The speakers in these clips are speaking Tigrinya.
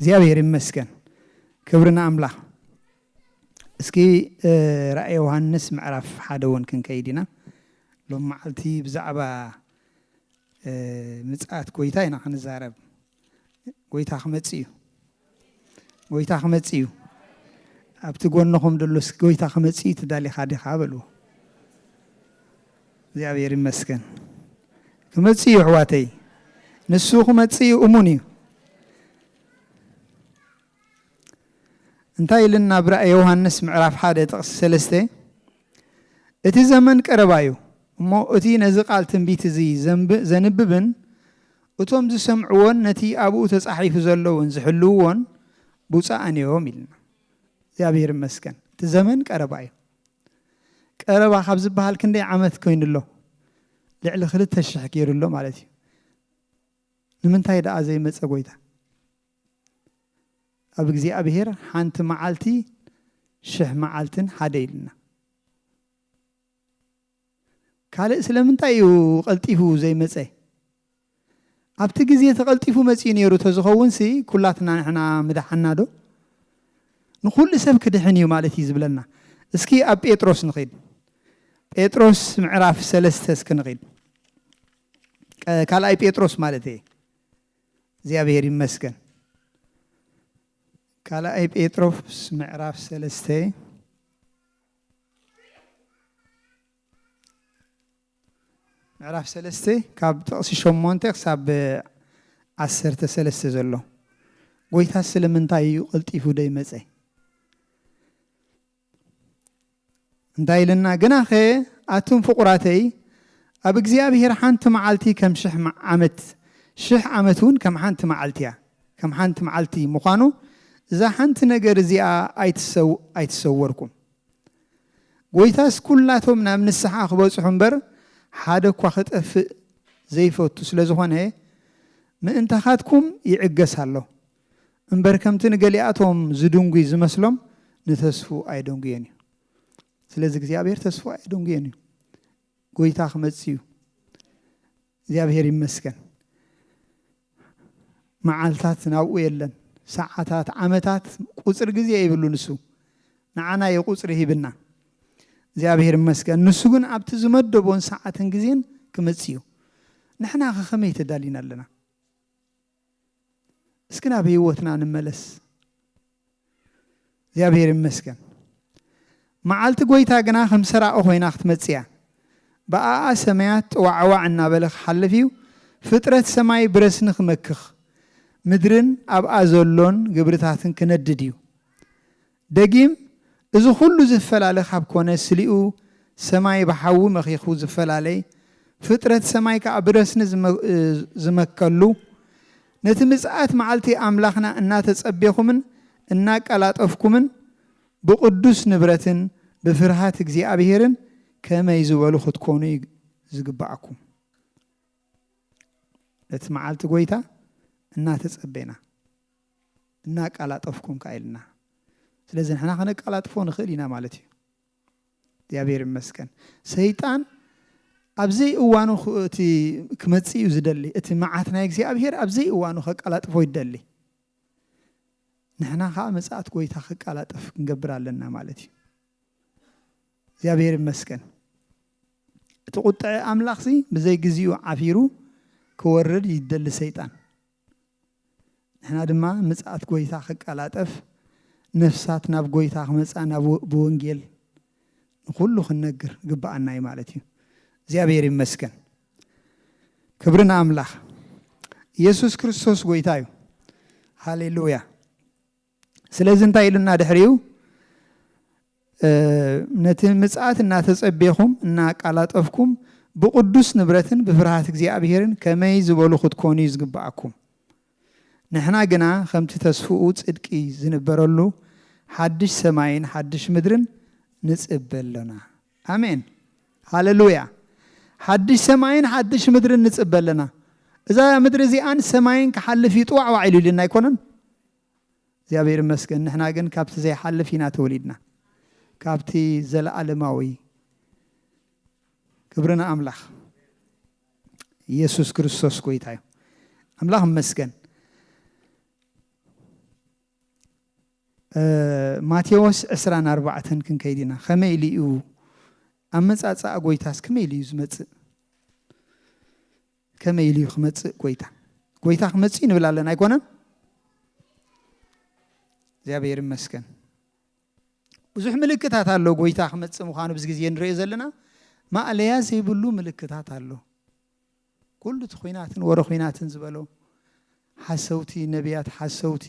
እግዚኣብሔር ይመስገን ክብሪ ንኣምላኽ እስኪ ራእይ ዮሃንስ ምዕራፍ ሓደ እውን ክንከይድ ኢና ሎም መዓልቲ ብዛዕባ ምፅኣት ጎይታ ኢና ክንዛረብ ጎይታ ክመፅ እዩ ጎይታ ክመፅ እዩ ኣብቲ ጎንኹም ደሎስ ጎይታ ክመፅ እዩ ትዳሊኻ ዲኻ በልዎ እግዚኣብሔር ይመስገን ክመጽእ እዩ ኣሕዋተይ ንሱ ክመጽእ እዩ እሙን እዩ እንታይ ኢልና ኣብ ራእይ ዮሃንስ ምዕራፍ ሓደ ጥቕሲ ሰለስተ እቲ ዘመን ቀረባ እዩ እሞ እቲ ነዚ ቃል ትንቢት እዚ ዘንብብን እቶም ዝሰምዕዎን ነቲ ኣብኡ ተጻሒፉ ዘለውን ዝሕልውዎን ብፁዓን እዮም ኢልና እግዚኣብሔር ይመስገን እቲ ዘመን ቀረባ እዩ ቀረባ ካብ ዝበሃል ክንደይ ዓመት ኮይኑ ኣሎ? ልዕሊ ክልተ ሽሕ ገይሩ ኣሎ ማለት እዩ። ንምንታይ ደኣ ዘይመጸ ጎይታ? ኣብ እግዚኣብሔር ሓንቲ መዓልቲ ሽሕ መዓልትን ሓደ ኢልና። ካልእ ስለምንታይ እዩ ቐልጢፉ ዘይመጸ? ኣብቲ ግዜ እቲ ቐልጢፉ መጺኡ ነይሩ ተዝኸውንሲ ኩላትና ንሕና ምደሓንናዶ? ንኹሉ ሰብ ክድሕን እዩ ማለት እዩ ዝብለና። እስኪ ኣብ ጴጥሮስ ንኺድ። ጴጥሮስ ምዕራፍ ሰለስተ እስኪ ንኺድ። ካልኣይ ጴጥሮስ ማለት እየ። እግዚኣብሔር ይመስገን። ካልኣይ ጴጥሮስ ምዕራፍ ሰለስተ ምዕራፍ ሰለስተ ካብ ጥቕሲ ሸሞንተ ክሳብ ዓሰርተ ሰለስተ ዘሎ ጎይታ ስለምንታይ እዩ ቐልጢፉ ደይመፀ እንታይ ኢለና ግናኸ ኣቱም ፍቑራተይ ኣብ እግዚኣብሄር ሓንቲ መዓልቲ ከም ሽሕ ዓመት ሽሕ ዓመት እውን ከም ሓንቲ መዓልቲ እያ ከም ሓንቲ መዓልቲ ምዃኑ እዛ ሓንቲ ነገር እዚኣ ኣይትሰወርኩም። ጐይታስ ኵላቶም ናብ ንስሓ ኽበጽሑ እምበር፣ ሓደ እኳ ኽጠፍእ ዘይፈቱ ስለ ዝዀነ፣ ምእንታኻትኩም ይዕገስ ኣሎ እምበር፣ ከምቲ ንገሊኣቶም ዝድንጒ ዝመስሎም፣ ንተስፉ ኣየደንጉዮን እዩ። ስለዚ እግዚኣብሄር ተስፉ ኣየደንጉዮን እዩ። ጐይታ ኽመጽእ እዩ። እግዚኣብሔር ይመስገን መዓልታት ናብኡ የለን ሰዓታት ዓመታት ቁፅሪ ግዜ ይብሉ ንሱ ንዓና እዩ ቁፅሪ ሂብና እግዚኣብሔር ይመስገን ንሱ ግን ኣብቲ ዝመደቦን ሰዓትን ግዜን ክመፅ እዩ ንሕና ከ ከመይ ተዳሊና ኣለና እስኪ ናብ ህይወትና ንመለስ እግዚኣብሔር ይመስገን መዓልቲ ጎይታ ግና ከም ሰራቂ ኮይና ክትመጽእ እያ ብኣኣ ሰማያት ጥዋዕዋዕ እናበለ ክሓልፍ እዩ ፍጥረት ሰማይ ብረስኒ ክመክኽ ምድርን ኣብኣ ዘሎን ግብርታትን ክነድድ እዩ ደጊም እዚ ኩሉ ዝፈላለ ካብ ኮነ ስሊኡ ሰማይ ብሓዊ መኺኹ ዝፈላለይ ፍጥረት ሰማይ ከኣ ብረስኒ ዝመከሉ ነቲ ምጽኣት መዓልቲ ኣምላኽና እናተጸቤኹምን እናቀላጠፍኩምን ብቅዱስ ንብረትን ብፍርሃት እግዚኣብሔርን ከመይ ዝበሉ ክትኮኑ እዩ ዝግብኣኩም ነቲ መዓልቲ ጎይታ እናተጸቤና። እናቃላጠፍኩም ከኣ ኢልና ስለዚ ንሕና ከነቃላጥፎ ንኽእል ኢና ማለት እዩ እግዚኣብሔር ይመስገን ሰይጣን ኣብ ዘይእዋኑ እቲ ክመፅእ እዩ ዝደሊ እቲ መዓት ናይ እግዚኣብሔር ኣብ ዘይእዋኑ ከቃላጥፎ ይደሊ ንሕና ከዓ መፅኣት ጎይታ ክቃላጠፍ ክንገብር ኣለና ማለት እዩ እግዚኣብሔር ይመስገን እቲ ቁጥዐ ኣምላኽ ሲ ብዘይ ግዚኡ ዓፊሩ ክወርድ ይደሊ ሰይጣን ንሕና ድማ ምጽኣት ጐይታ ክቀላጠፍ ነፍሳት ናብ ጐይታ ክመጻ ናብ ብወንጌል ንኹሉ ክንነግር ይግብኣና እዩ ማለት እዩ። እግዚኣብሔር ይመስገን። ክብሪ ንኣምላኽ። ኢየሱስ ክርስቶስ ጐይታ እዩ። ሃሌሉያ። ስለዚ እንታይ ኢሉና ድሕሪኡ ነቲ ምጽኣት እናተጸቤኹም እናኣቃላጠፍኩም ብቕዱስ ንብረትን ብፍርሃት እግዚኣብሔርን ከመይ ዝበሉ ክትኮኑ እዩ ዝግብኣኩም። ንሕና ግና ከምቲ ተስፍኡ ጽድቂ ዝንበረሉ ሓድሽ ሰማይን ሓድሽ ምድርን ንጽበ ኣሎና። ኣሜን ሃለሉያ። ሓድሽ ሰማይን ሓድሽ ምድርን ንጽበ ኣለና። እዛ ምድሪ እዚኣን ሰማይን ክሓልፍ እዩ ጥዋዕዋዕ ኢሉ ኢሉና ኣይኮነን። እግዚኣብሔር ይመስገን ንሕና ግን ካብቲ ዘይሓልፍ ኢና ተወሊድና ካብቲ ዘለኣለማዊ ክብሪ ንኣምላኽ ኢየሱስ ክርስቶስ ጎይታ እዩ ኣምላኽ ይመስገን ማቴዎስ 20 ኣርባዕተን ክንከይድ ኢና ከመይ ኢሉ እዩ ኣመፃፅኣ ጎይታስ ከመይ ኢሉ እዩ ዝመፅእ ከመይ ኢሉ እዩ ክመፅእ ጎይታ ጎይታ ክመፅእ እዩ ንብል ኣለና ኣይኮነን እግዚኣብሔር ይመስገን ብዙሕ ምልክታት ኣሎ ጎይታ ክመፅእ ምዃኑ ብዚ ግዜ ንሪኦ ዘለና ማእለያ ዘይብሉ ምልክታት ኣሎ ኩሉ እቲ ኩናትን ወረ ኩናትን ዝበሎ ሓሰውቲ ነቢያት ሓሰውቲ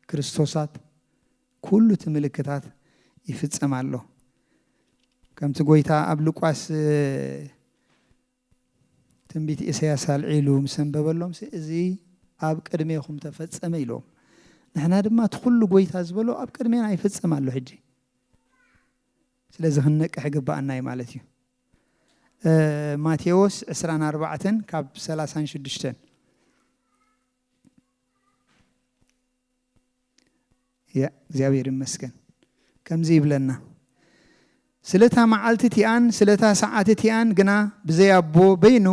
ክርስቶሳት ኩሉ እቲ ምልክታት ይፍፀም ኣሎ ከምቲ ጎይታ ኣብ ሉቃስ ትንቢት ኢሳያስ ኣልዒሉ ምስ ኣንበበሎምሲ እዚ ኣብ ቅድሜኹም ተፈጸመ ኢሎም። ንሕና ድማ እቲ ኩሉ ጎይታ ዝበሎ ኣብ ቅድሜና ይፍጸም ኣሎ ሕጂ ስለዚ ክንነቅሕ ይግብኣና እዩ ማለት እዩ። ማቴዎስ ዕስራን ኣርባዕተን ካብ ሰላሳን ሽዱሽተን። እግዚኣብሔር ይመስገን ከምዚ ይብለና ስለታ መዓልቲ እቲኣን ስለታ ሰዓት እቲኣን ግና ብዘይ ኣቦ በይኑ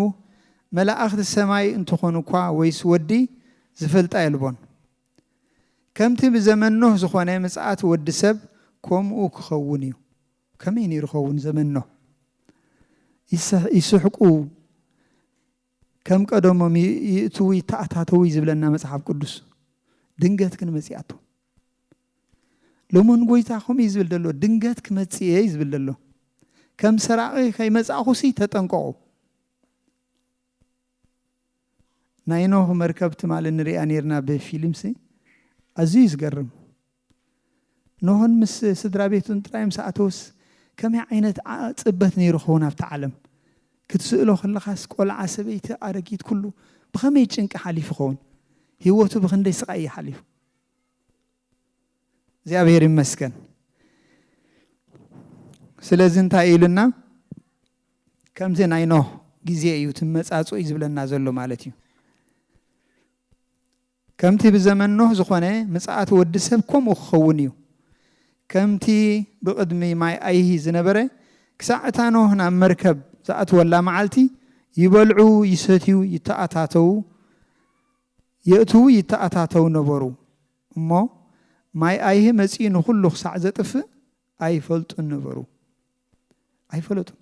መላእኽቲ ሰማይ እንትኾኑ እኳ ወይስ ወዲ ዝፈልጣ የልቦን ከምቲ ብዘመን ኖህ ዝኾነ ምጽኣት ወዲ ሰብ ከምኡ ክኸውን እዩ ከመይ ነይሩ ኸውን ዘመን ኖህ ይስሕቁ ከም ቀደሞም ይእትዉ ይተኣታተዉ ዝብለና መጽሓፍ ቅዱስ ድንገት ግን መጺኣቶ ሎሞን ጎይታ ከምኡ እዩ ዝብል ዘሎ ድንገት ክመጽእ እየ ዝብል ዘሎ ከም ሰራቒ ከይመጻእኹሲ ተጠንቀቑ ናይ ኖህ መርከብ ትማሊ ንሪኣ ነርና ብፊልምሲ ኣዝዩ ዝገርም ኖህን ምስ ስድራቤቱን ጥራይ ምስ ኣተዉስ ከመይ ዓይነት ጽበት ነይሩ ክኸውን ኣብታ ዓለም? ክትስእሎ ከለኻስ ቆልዓ ሰበይቲ ኣረጊት ኩሉ ብኸመይ ጭንቂ ሓሊፉ ይኸውን? ሂወቱ ብኽንደይ ስቓይ እዩ ሓሊፉ? እግዚኣብሔር ይመስገን ስለዚ እንታይ ኢሉና ከምዚ ናይ ኖህ ግዜ እዩ ትመጻጽ እዩ ዝብለና ዘሎ ማለት እዩ ከምቲ ብዘመን ኖህ ዝኾነ፣ ምጽኣት ወዲ ሰብ ከምኡ ክኸውን እዩ። ከምቲ ብቕድሚ ማይ ኣይሂ ዝነበረ፣ ክሳዕ እታ ኖህ ናብ መርከብ ዝኣትወላ መዓልቲ፣ ይበልዑ፣ ይሰትዩ፣ ይተኣታተዉ፣ የእትዉ ይተኣታተዉ ነበሩ እሞ፣ ማይ ኣይሂ መጺኡ ንኹሉ ክሳዕ ዘጥፍእ ኣይፈልጡን ነበሩ። ኣይፈለጡን።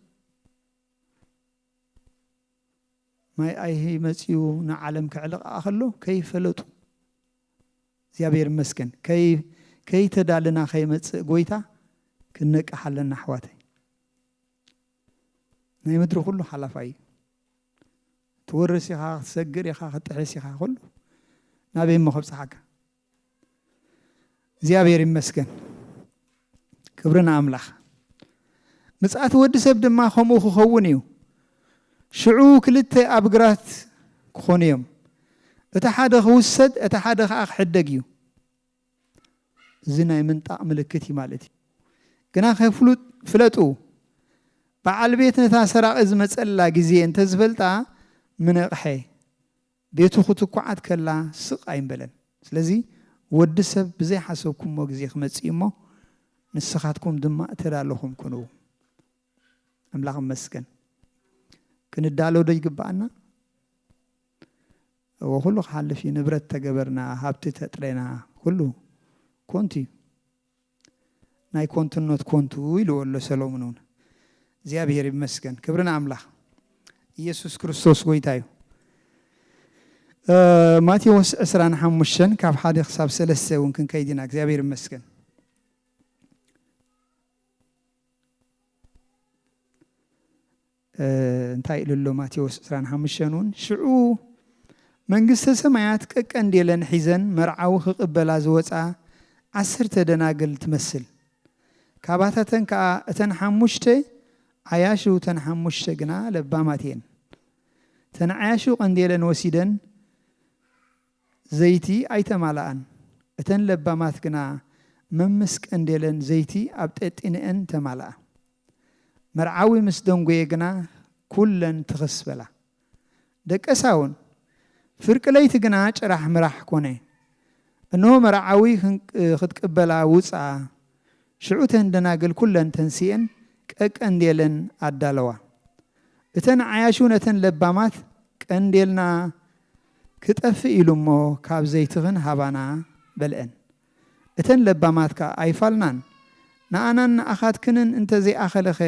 ማይ ኣይሂ መጺኡ ንዓለም ከዕልቕኣ ከሎ ከይፈለጡ እግዚኣብሔር ይመስገን ከይተዳልና ከይመጽእ ጎይታ ክንነቅሕ ኣለና ኣሕዋተይ ናይ ምድሪ ኩሉ ሓላፋይ እዩ ትወርስ ኢኻ ክትሰግር ኢኻ ክትጥሕስ ኢኻ ኩሉ ናበይ እሞ ከብፅሓካ እግዚኣብሔር ይመስገን ክብሪ ንኣምላኽ ምጽኣት ወዲ ሰብ ድማ ከምኡ ክኸውን እዩ ሽዑ ክልተ ኣብ ግራት ክኾኑ እዮም እቲ ሓደ ክውሰድ እቲ ሓደ ከዓ ክሕደግ እዩ እዚ ናይ ምንጣቕ ምልክት እዩ ማለት እዩ ግና ከፍሉጥ ፍለጡ በዓል ቤት ነታ ሰራቒ ዝመፀላ ግዜ እንተዝፈልጣ ምነቕሐ ቤቱ ክትኳዓት ከላ ስቕ ኣይምበለን። ስለዚ ወዲ ሰብ ብዘይ ሓሰብኩሞ ግዜ ክመጽእ እዩ እሞ ንስኻትኩም ድማ እተዳለኹም ኩኑ። ኣምላኽ ይመስገን። ክንዳሎ ዶ ይግብኣና? እወ ኩሉ ክሓልፍ እዩ። ንብረት ተገበርና፣ ሃብቲ ተጥሬና ኩሉ ኮንቱ እዩ። ናይ ኮንቱኖት ኮንቱ ኢልዎ ኣሎ ሰሎሙን እውን እግዚኣብሔር ይመስገን ክብሪ ንኣምላኽ ኢየሱስ ክርስቶስ ጎይታ እዩ ማቴዎስ ዕስራን ሓሙሽተን ካብ ሓደ ክሳብ ሰለስተ እውን ክንከይድ ኢና እግዚኣብሔር ይመስገን እንታይ ኢሉ ኣሎ ማቴዎስ ዕስራን ሓሙሽተን እውን ሽዑ መንግስተ ሰማያት ቀቀንዴለን ሒዘን መርዓዊ ክቕበላ ዝወፃ ዓሰርተ ደናግል ትመስል ካባታተን ከዓ እተን ሓሙሽተ ዓያሹ እተን ሓሙሽተ ግና ለባማት እየን እተን ዓያሹ ቀንዴለን ወሲደን ዘይቲ ኣይተማልኣን። እተን ለባማት ግና መምስ ቀንዴለን ዘይቲ ኣብ ጤጢነኤን ተማልኣ። መርዓዊ ምስ ደንጎየ ግና ኩለን ትኽስ በላ። ደቀሳውን። ፍርቂ ለይቲ ግና ጭራሕ ምራሕ ኮነ። እንሆ መርዓዊ ክትቅበላ ውጽኣ። ሽዑ እተን ደናግል ኩለን ተንሲኤን ቀቀንዴለን ኣዳለዋ። እተን ዓያሹ ነተን ለባማት ቀንዴልና ክጠፍእ ኢሉ እሞ ካብ ዘይትኽን ሃባና በልኤን። እተን ለባማት ከኣ ኣይፋልናን፣ ንኣናን ንኣኻትክንን እንተ ዘይኣኸለኸ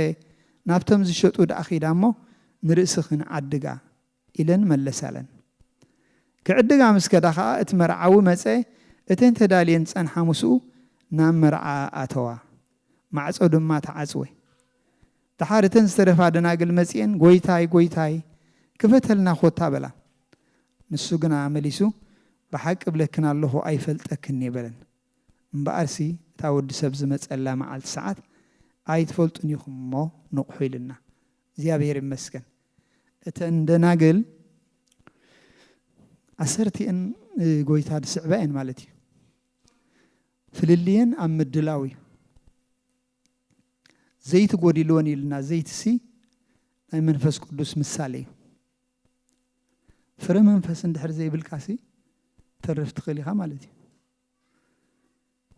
ናብቶም ዝሸጡ ደኣ ኺዳ እሞ ንርእስኽን ዓድጋ ኢለን መለሳለን። ክዕድጋ ምስ ከዳ ኸኣ እቲ መርዓዊ መጸ፣ እተን ተዳልየን ዝጸንሓ ምስኡ ናብ መርዓ ኣተዋ፣ ማዕጾ ድማ ተዓጽወ። ደሓር እተን ዝተረፋ ደናግል መጺኤን ጐይታይ! ጐይታይ! ክፈተልና ዀታ! በላ። ንሱ ግና መሊሱ ብሓቂ እብለክን ኣሎኹ፣ ኣይፈልጠክን እየ በለን። እምበኣርሲ እታ ወዲ ሰብ ዝመጸላ መዓልቲ ሰዓት ኣይትፈልጡን ኢኹም እሞ ንቕሑ ኢሉና። እግዚኣብሄር ይመስገን! እተን ደናግል ዓሰርቲኤን ጐይታ ዝስዕባ እየን ማለት እዩ። ፍልልየን ኣብ ምድላው እዩ። ዘይቲ ጎዲልወን ኢልና ዘይትሲ ናይ መንፈስ ቅዱስ ምሳሌ እዩ ፍረ መንፈስ እንድሕር ዘይብልካሲ ተርፍ ትኽእል ኢኻ ማለት እዩ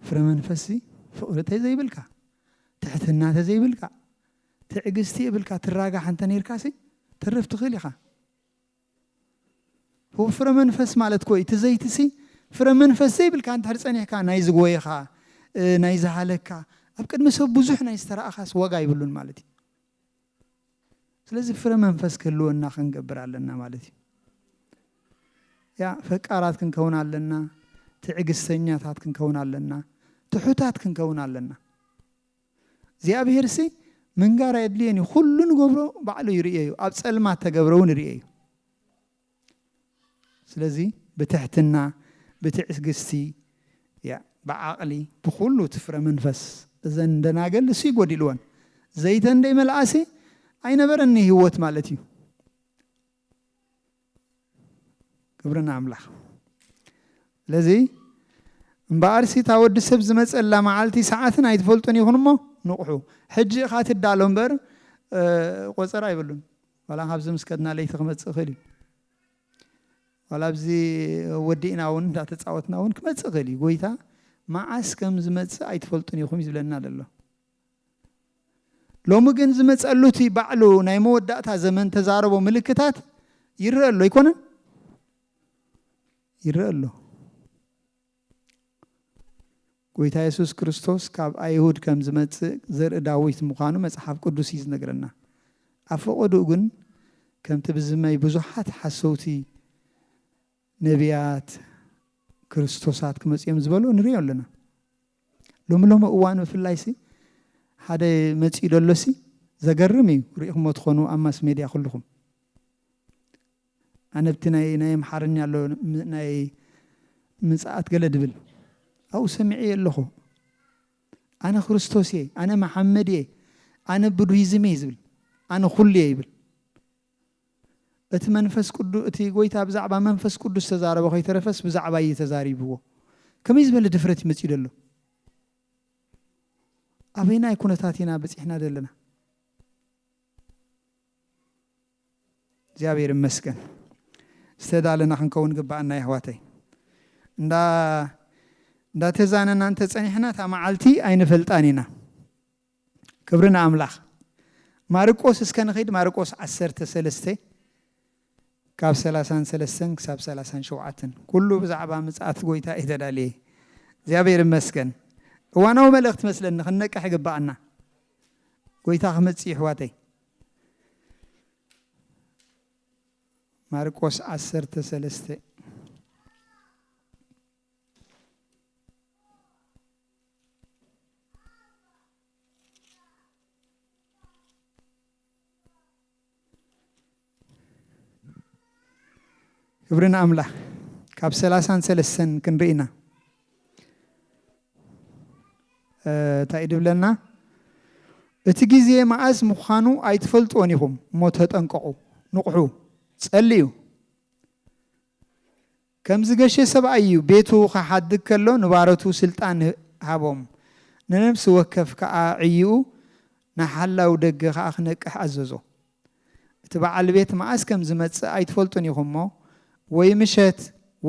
ፍረ መንፈስሲ ፍቕሪ ተዘይብልካ ትሕትና ተዘይብልካ ትዕግስቲ የብልካ ትራጋሕ እንተ ነርካሲ ተርፍ ትኽእል ኢኻ ብ ፍረ መንፈስ ማለት ኮይ እቲ ዘይቲ ሲ ፍረ መንፈስ ዘይብልካ እንድሕር ጸኒሕካ ናይ ዝጎየኻ ናይ ዝሃለካ ኣብ ቅድሚ ሰብ ብዙሕ ናይ ዝተራኣኻስ ዋጋ ይብሉን ማለት እዩ ስለዚ ፍረ መንፈስ ክህልወና ክንገብር ኣለና ማለት እዩ ያ ፈቃራት ክንከውን ኣለና ትዕግስተኛታት ክንከውን ኣለና ትሑታት ክንከውን ኣለና እግዚኣብሄርሲ ምንጋር ኣየድልዮን እዩ ኩሉ ንገብሮ ባዕሉ ይርእዮ እዩ ኣብ ጸልማት ተገብረ እውን ይርእዮ እዩ ስለዚ ብትሕትና ብትዕግስቲ ብዓቕሊ ብኩሉ እቲ ፍረ መንፈስ እዘን ደናገል እሱ ይጎዲልወን ዘይተን ደይ መልኣሲ ኣይነበረኒ ህይወት ማለት እዩ ክብሪ ንኣምላኽ። ስለዚ እምበኣርሲ እታ ወዲ ሰብ ዝመጸላ መዓልቲ ሰዓትን ኣይትፈልጡን ኢኹን እሞ ንቕሑ። ሕጂ ኢኻ ትዳሎ እምበር ቆጸራ የብሉን። ዋላ ካብዚ ምስ ከድና ለይቲ ክመጽእ ይኽእል እዩ። ዋላ ኣብዚ ወዲእና እውን እንዳተጻወትና እውን ክመጽእ ይኽእል እዩ። ጎይታ መዓስ ከም ዝመጽእ ኣይትፈልጡን ኢኹም እዩ ዝብለና ዘሎ። ሎሚ ግን ዝመጸሉ እቲ ባዕሉ ናይ መወዳእታ ዘመን ተዛረቦ ምልክታት ይረአ ኣሎ ኣይኮነን ይረአ ኣሎ ጎይታ የሱስ ክርስቶስ ካብ ኣይሁድ ከም ዝመጽእ ዘርኢ ዳዊት ምዃኑ መጽሓፍ ቅዱስ እዩ ዝነግረና ኣብ ፈቐድኡ ግን ከምቲ ብዝመይ ብዙሓት ሓሰውቲ ነቢያት ክርስቶሳት ክመጽኦም ዝበሉ ንሪኦ ኣለና ሎሚ ሎሚ እዋን ብፍላይሲ ሓደ መጺኡ ደሎሲ ዘገርም እዩ ሪኢኹሞ ትኾኑ ኣብ ማስ ሜድያ ኩሉኹም ኣነ ብቲ ናይ ናይ ኣምሓርኛ ኣሎ ናይ ምጽኣት ገለ ድብል ኣብኡ ሰሚዐ ኣለኹ ኣነ ክርስቶስ እየ ኣነ መሓመድ እየ ኣነ ቡድሂዝም እየ ዝብል ኣነ ኩሉ እየ ይብል እቲ መንፈስ ቅዱ እቲ ጎይታ ብዛዕባ መንፈስ ቅዱስ ዝተዛረቦ ከይተረፈስ ብዛዕባይ እዩ ተዛሪብዎ ከመይ ዝበለ ድፍረት እዩ መጺኡ ደሎ ኣበይናይ ኩነታት ኢና በጺሕና ደለና እግዚኣብሔር ይመስገን ዝተዳለና ክንከውን ግባኣና የሕዋተይ እንዳ እንዳተዛነና እንተ ጸኒሕና እታ መዓልቲ ኣይንፈልጣን ኢና ክብሪ ንኣምላኽ። ማርቆስ እስከ ንኺድ ማርቆስ ዓሰርተ ሰለስተ ካብ ሰላሳን ሰለስተን ክሳብ ሰላሳን ሸውዓተን ኩሉ ብዛዕባ ምጽኣት ጎይታ እዩ ተዳልየ። እግዚኣብሔር ይመስገን። እዋናዊ መልእኽቲ መስለኒ ክንነቅሕ ይግብኣና። ጎይታ ክመጽእ እዩ ኣሕዋተይ። ማርቆስ ዓሰርተ ሰለስተ ክብሪ ንኣምላኽ ካብ ሰላሳን ሰለስተን ክንርኢ ኢና እ፣ እንታይ እዩ ድብለና እቲ ግዜ መዓስ ምዃኑ ኣይትፈልጥዎን ኢኹም እሞ ተጠንቀቑ ንቑሑ ጸልዩ ከም ዝገሸ ሰብኣይ እዩ ቤቱ ክሓድግ ከሎ ንባሮቱ ስልጣን ሃቦም ንነብሲ ወከፍ ከኣ ዕይኡ ንሓላው ደገ ከኣ ክነቅሕ ኣዘዞ እቲ በዓል ቤት መኣስ ከም ዝመጽእ ኣይትፈልጡን ኢኹም እሞ ወይ ምሸት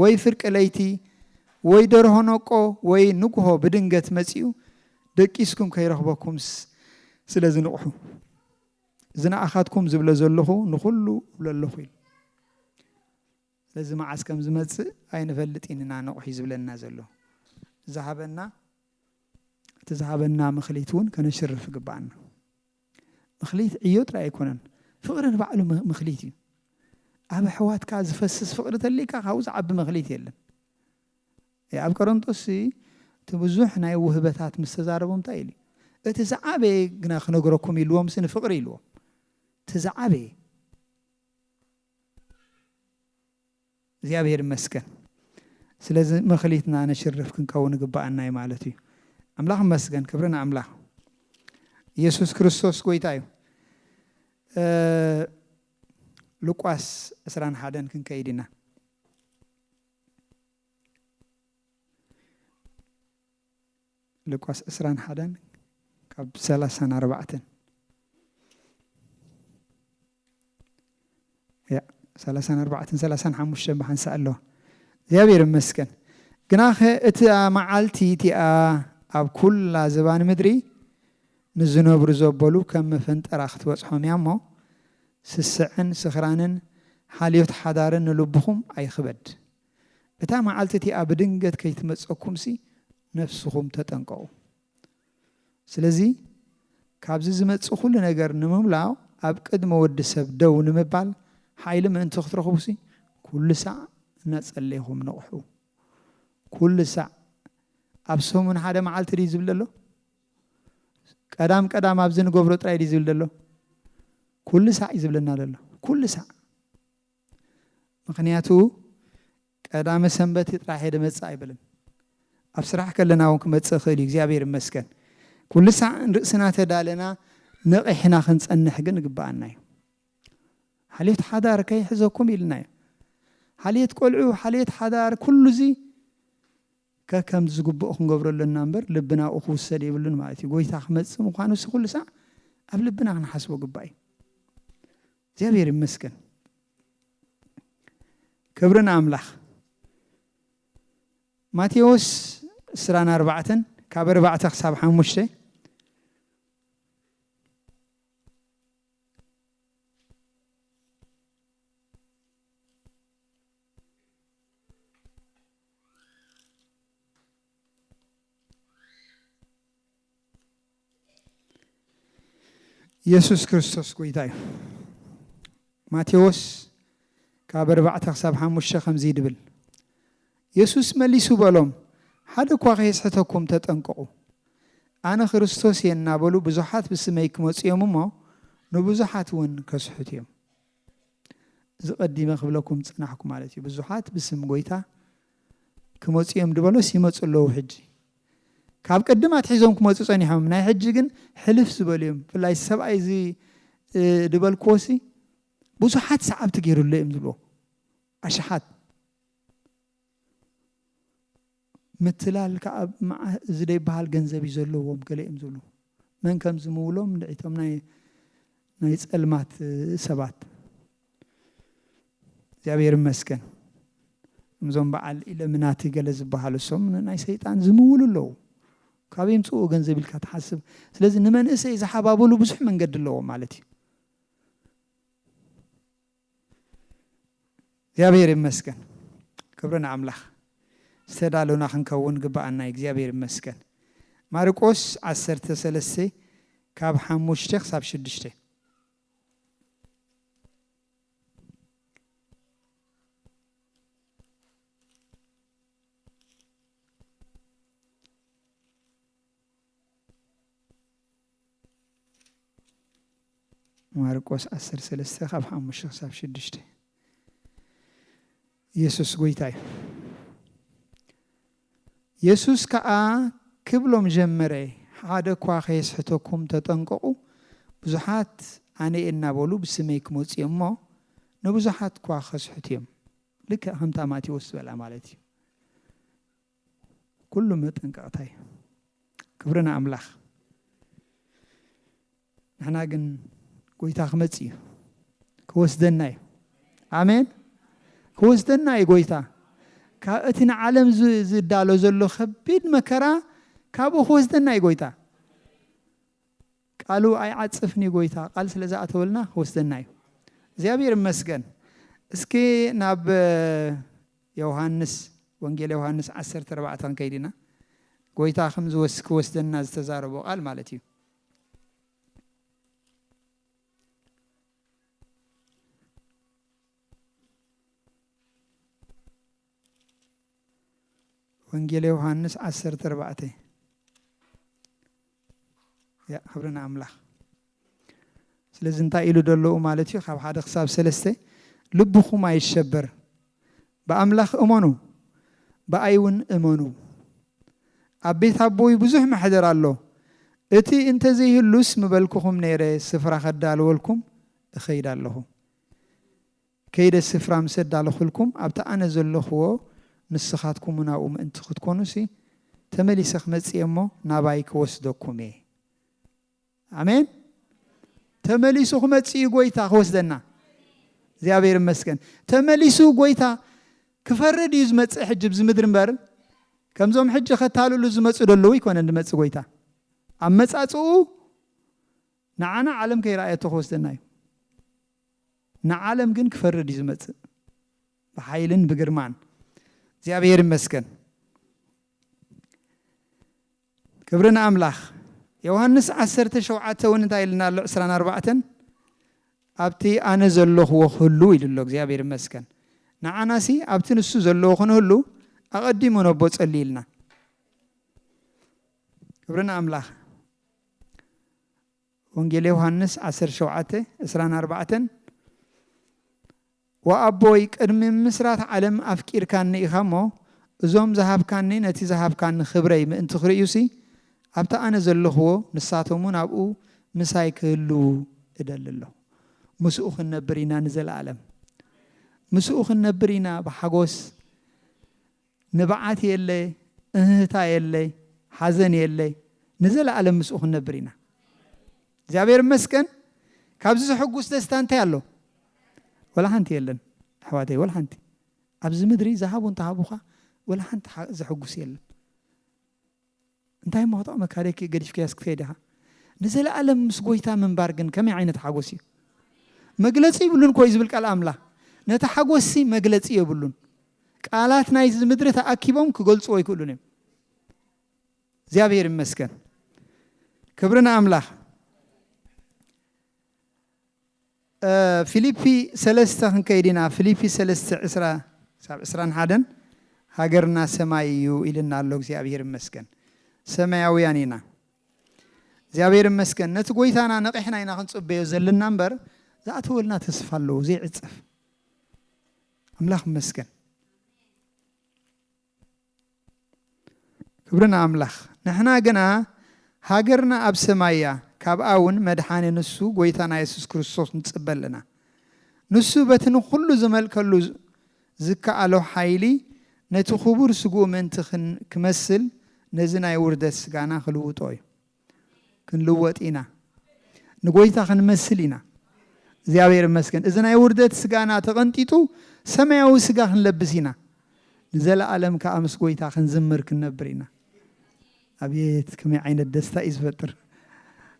ወይ ፍርቂ ለይቲ ወይ ደርሆ ነቆ ወይ ንግሆ ብድንገት መጺኡ ደቂስኩም ከይረኽበኩም ስለ ዝንቕሑ እዚ ንኣኻትኩም ዝብለ ዘለኹ ንኹሉ እብሎ ኣለኹ ኢሉ። ስለዚ መዓስ ከም ዝመጽእ ኣይንፈልጥን ኢና ንቕሑ ዝብለና ዘሎ። ዝሃበና እቲ ዝሃበና ምኽሊት እውን ከነሽርፍ ይግብኣና። ምኽሊት ዕዮ ጥራይ ኣይኮነን፣ ፍቕሪ ንባዕሉ ምኽሊት እዩ። ኣብ ኣሕዋትካ ዝፈስስ ፍቕሪ ተልይካ ካብኡ ዝዓቢ ምኽሊት የለን። ኣብ ቀረንጦስ እቲ ብዙሕ ናይ ውህበታት ምስ ተዛረቦም እንታይ ኢሉ እቲ ዝዓበየ ግና ክነግረኩም ኢልዎምሲ ንፍቕሪ ኢልዎም እቲ ዝዓበየ እግዚኣብሔር ይመስገን ስለዚ መክሊትና ነሽርፍ ክንከውን ይግባኣና እዩ ማለት እዩ ኣምላኽ ይመስገን ክብሪ ንኣምላኽ ኢየሱስ ክርስቶስ ጎይታ እዩ ሉቃስ 21 ክንከይድ ኢና ሉቃስ ዕስራን ሓደን ካብ ሰላሳን ኣርባዕተን ሰላሳን ኣርባዕተን ሰላሳን ሓሙሽተን ብሓንሳእ ኣለዋ እግዚኣብሔር ይመስገን ግናኸ እቲኣ መዓልቲ እቲኣ ኣብ ኩላ ዝባን ምድሪ ንዝነብሩ ዘበሉ ከም መፈንጠራ ክትበጽሖም እያ እሞ ስስዕን ስኽራንን ሓልዮት ሓዳርን ንልብኹም ኣይኽበድ እታ መዓልቲ እቲኣ ብድንገት ከይትመጸኩምሲ ነፍስኹም ተጠንቀቑ። ስለዚ ካብዚ ዝመጽእ ኩሉ ነገር ንምምላእ ኣብ ቅድሚ ወዲ ሰብ ደው ንምባል ሓይሊ ምእንቲ ክትረኽቡሲ ኩሉ ሳዕ እናጸለይኹም ንቕሑ። ኩሉ ሳዕ ኣብ ሰሙን ሓደ መዓልቲ ድዩ ዝብል ዘሎ? ቀዳም ቀዳም ኣብዚ ንገብሮ ጥራይ ድዩ ዝብል ዘሎ? ኩሉ ሳዕ እዩ ዝብለና ዘሎ። ኩሉ ሳዕ ምኽንያቱ ቀዳመ ሰንበት እዩ ጥራሕ እየ ድመፅእ ኣይብልን። ኣብ ስራሕ ከለና እውን ክመፅእ ይኽእል እዩ እግዚኣብሔር ይመስገን። ኩሉ ሳዕ ንርእስና ተዳለና ነቒሕና ክንፀንሕ ግን ይግበኣና እዩ። ሓልዮት ሓዳር ከይሕዘኩም ኢልና እዩ። ሓልዮት ቆልዑ፣ ሓልዮት ሓዳር ኩሉ እዚ ከከም ዝግብኦ ክንገብሮ ኣለና እምበር ልብና ኣብኡ ክውሰድ የብሉን ማለት እዩ። ጎይታ ክመፅእ ምዃኑ ሲ ኩሉ ሳዕ ኣብ ልብና ክንሓስቦ ግባእ እዩ። እግዚኣብሔር ይመስገን ክብሪ ንኣምላኽ ማቴዎስ ዕስራን ኣርባዕተን ካብ ኣርባዕተ ክሳብ ሓሙሽተ ኢየሱስ ክርስቶስ ጎይታ እዩ። ማቴዎስ ካብ ኣርባዕተ ክሳብ ሓሙሽተ ከምዚ ድብል ኢየሱስ መሊሱ በሎም ሓደ እኳ ከየስሕተኩም ተጠንቀቑ ኣነ ክርስቶስ እየ እናበሉ ብዙሓት ብስመይ ክመፁ እዮም እሞ ንብዙሓት እውን ከስሕቱ እዮም እዚ ቀዲመ ክብለኩም ዝፅናሕኩ ማለት እዩ ብዙሓት ብስም ጎይታ ክመጹ እዮም ድበሎስ ይመጹ ኣለዉ ሕጂ ካብ ቅድም ኣትሒዞም ክመጹ ጸኒሖም ናይ ሕጂ ግን ሕልፍ ዝበሉ እዮም ብፍላይ እዚ ሰብኣይ እዚ ድበልክዎሲ ብዙሓት ሰዓብቲ ገይሩሎ እዮም ዝብልዎ ኣሽሓት ምትላል ከዓ እዚ ዘይበሃል ገንዘብ እዩ ዘለዎም ገለ እዮም ዝብሉ መን ከም ዝምውሎም ንዒቶም ናይ ናይ ጸልማት ሰባት እግዚኣብሔር ይመስገን እዞም በዓል ኢለምናቲ ገለ ዝበሃሉ እሶም ንናይ ሰይጣን ዝምውሉ ኣለዉ ካብ የምፅኡ ገንዘብ ኢልካ ትሓስብ ስለዚ ንመንእሰይ ዝሓባብሉ ብዙሕ መንገዲ ኣለዎ ማለት እዩ እግዚኣብሔር ይመስገን ክብሪ ንኣምላኽ ዝተዳለና ክንከውን ግባኣና እግዚኣብሔር ይመስገን ማርቆስ 13 ካብ ሓሙሽተ ክሳብ ሽዱሽተ ማርቆስ ዓሰርተ ሰለስተ ካብ ሓሙሽተ ክሳብ ሽዱሽተ የሱስ ጐይታ እዩ። የሱስ ከኣ ክብሎም ጀመረ፣ ሓደ እኳ ከየስሕተኩም ተጠንቀቑ፣ ብዙሓት ኣነ እየ እናበሉ ብስመይ ክመጹ እዮም እሞ፣ ንብዙሓት እኳ ኸስሕቱ እዮም። ልክዕ ከምታ ማቴዎስ ዝበላ ማለት እዩ። ኩሉ መጠንቀቅታ እዩ ክብሪ ንኣምላኽ ንሕና ግን ጎይታ ክመጽእ እዩ ክወስደና እዩ ኣሜን ክወስደና እዩ ጎይታ ካብ እቲ ንዓለም ዝዳሎ ዘሎ ከቢድ መከራ ካብኡ ክወስደና እዩ ጎይታ ቃሉ ኣይዓጽፍንዩ ጎይታ ቃል ስለ ዝኣተወልና ክወስደናዩ እግዚኣብሔር ይመስገን እስኪ ናብ ዮውሃንስ ወንጌል ዮውሃንስ ዓሰርተ ኣርባዕተ ክንከይድ ኢና ጎይታ ከም ዝወስ ክወስደና ዝተዛረቦ ቃል ማለት እዩ ወንጌል ዮውሃንስ ዓሰርተ ኣርባዕተ ያ ክብሪ ንኣምላኽ ስለዚ እንታይ ኢሉ ደለዉ ማለት እዩ ካብ ሓደ ክሳብ ሰለስተ ልብኹም ኣይሸበር ብኣምላኽ እመኑ ብኣይ እውን እመኑ ኣብ ቤት ኣቦይ ብዙሕ መሕደር ኣሎ እቲ እንተዘይህሉስ ምበልክኹም ነይረ ስፍራ ከዳልወልኩም እኸይድ ኣለኹ ከይደ ስፍራ ምስ ኣዳለኹልኩም፣ ኣብቲ ኣነ ዘሎኹዎ ንስኻትኩምውን ኣብኡ ምእንቲ ኽትኰኑሲ፣ ተመሊሰ ኽመጽእ እየ እሞ፣ ናባይ ክወስደኩም እየ። ኣሜን። ተመሊሱ ኽመጽእ እዩ ጐይታ ኽወስደና። እግዚኣብሔር ይመስገን። ተመሊሱ ጐይታ ክፈርድ እዩ ዝመጽእ ሕጂ ብዚ ምድሪ እምበር፣ ከምዞም ሕጂ ኸታልሉ ዝመጹ ደለዉ ኣይኰነን ዝመጽእ ጐይታ። ኣመጻጽኡ ንዓና ዓለም ከይረኣየቶ ኽወስደና እዩ። ንዓለም ግን ክፈርድ እዩ ዝመጽእ ብሓይልን ብግርማን እግዚኣብሔር ይመስገን ክብሪ ንኣምላኽ ዮውሃንስ ዓሰርተ ሸውዓተ እውን እንታይ ኢልና ኣሎ ዕስራን ኣርባዕተን ኣብቲ ኣነ ዘለኹዎ ክህሉ ኢሉ ኣሎ እግዚኣብሔር ይመስገን ንዓናሲ ኣብቲ ንሱ ዘለዎ ክንህሉ ኣቐዲሙ ነቦ ጸልዩ ኢልና ክብሪ ንኣምላኽ ወንጌል ዮሃንስ ዓሰርተ ሸውዓተ፣ ዕስራን ኣርባዕተን፣ ወኣቦይ ቅድሚ ምምስራት ዓለም ኣፍቂርካኒ ኢኻ እሞ፣ እዞም ዝሃብካኒ ነቲ ዝሃብካኒ ኽብረይ ምእንቲ ኽርእዩሲ፣ ኣብቲ ኣነ ዘለኽዎ ንሳቶምውን ኣብኡ ምሳይ ክህልዉ እደሊ ኣለኹ። ምስኡ ኽንነብር ኢና ንዘለኣለም። ምስኡ ኽንነብር ኢና ብሓጐስ። ንብዓት የለ እህህታ የለ ሓዘን የለ ንዘለኣለም ምስኡ ክንነብር ኢና እግዚኣብሔር ይመስገን ካብዚ ዘሐጉስ ደስታ እንታይ ኣሎ ወላ ሓንቲ የለን ኣሕዋተይ ወላ ሓንቲ ኣብዚ ምድሪ ዝሃቡ እንተሃቡኻ ወላ ሓንቲ ዘሐጉስ የለን እንታይ እሞ ክጥዕመካ ደኪ ገዲፍካያስ ክትከይድ ኢኻ ንዘለኣለም ምስ ጎይታ ምንባር ግን ከመይ ዓይነት ሓጎስ እዩ መግለጺ ይብሉን ኮይ ዝብል ቃል ኣምላኽ ነቲ ሓጎስሲ መግለጺ የብሉን ቃላት ናይዚ ምድሪ ተኣኪቦም ክገልጽዎ ኣይክእሉን እዮም እግዚኣብሔር ይመስገን ክብሪ ንኣምላኽ ፊሊፒ ሰለስተ ክንከይድ ኢና ፊሊፒ ሰለስተ ዕስራ ክሳብ ዕስራን ሓደን ሃገርና ሰማይ እዩ ኢልና ኣሎ እግዚኣብሄር ይመስገን ሰማያውያን ኢና እግዚኣብሄር ይመስገን ነቲ ጎይታና ነቂሕና ኢና ክንጽበዮ ዘለና እምበር ዝኣተወልና ተስፋ ኣለዎ ዘይዕጸፍ ኣምላኽ ይመስገን ክብሪ ንኣምላኽ ንሕና ግና ሃገርና ኣብ ሰማይ እያ ካብኣ ውን መድሓኒ ንሱ ጎይታና የሱስ ክርስቶስ ንጽበ ኣለና ንሱ በቲ ንኹሉ ዝመልከሉ ዝከኣሎ ሓይሊ ነቲ ክቡር ስግኡ ምእንቲ ክመስል ነዚ ናይ ውርደት ስጋና ክልውጦ እዩ። ክንልወጥ ኢና ንጎይታ ክንመስል ኢና እግዚኣብሔር ይመስገን እዚ ናይ ውርደት ስጋና ተቐንጢጡ ሰማያዊ ስጋ ክንለብስ ኢና ንዘለኣለም ከዓ ምስ ጎይታ ክንዝምር ክንነብር ኢና ኣብየት ከመይ ዓይነት ደስታ እዩ ዝፈጥር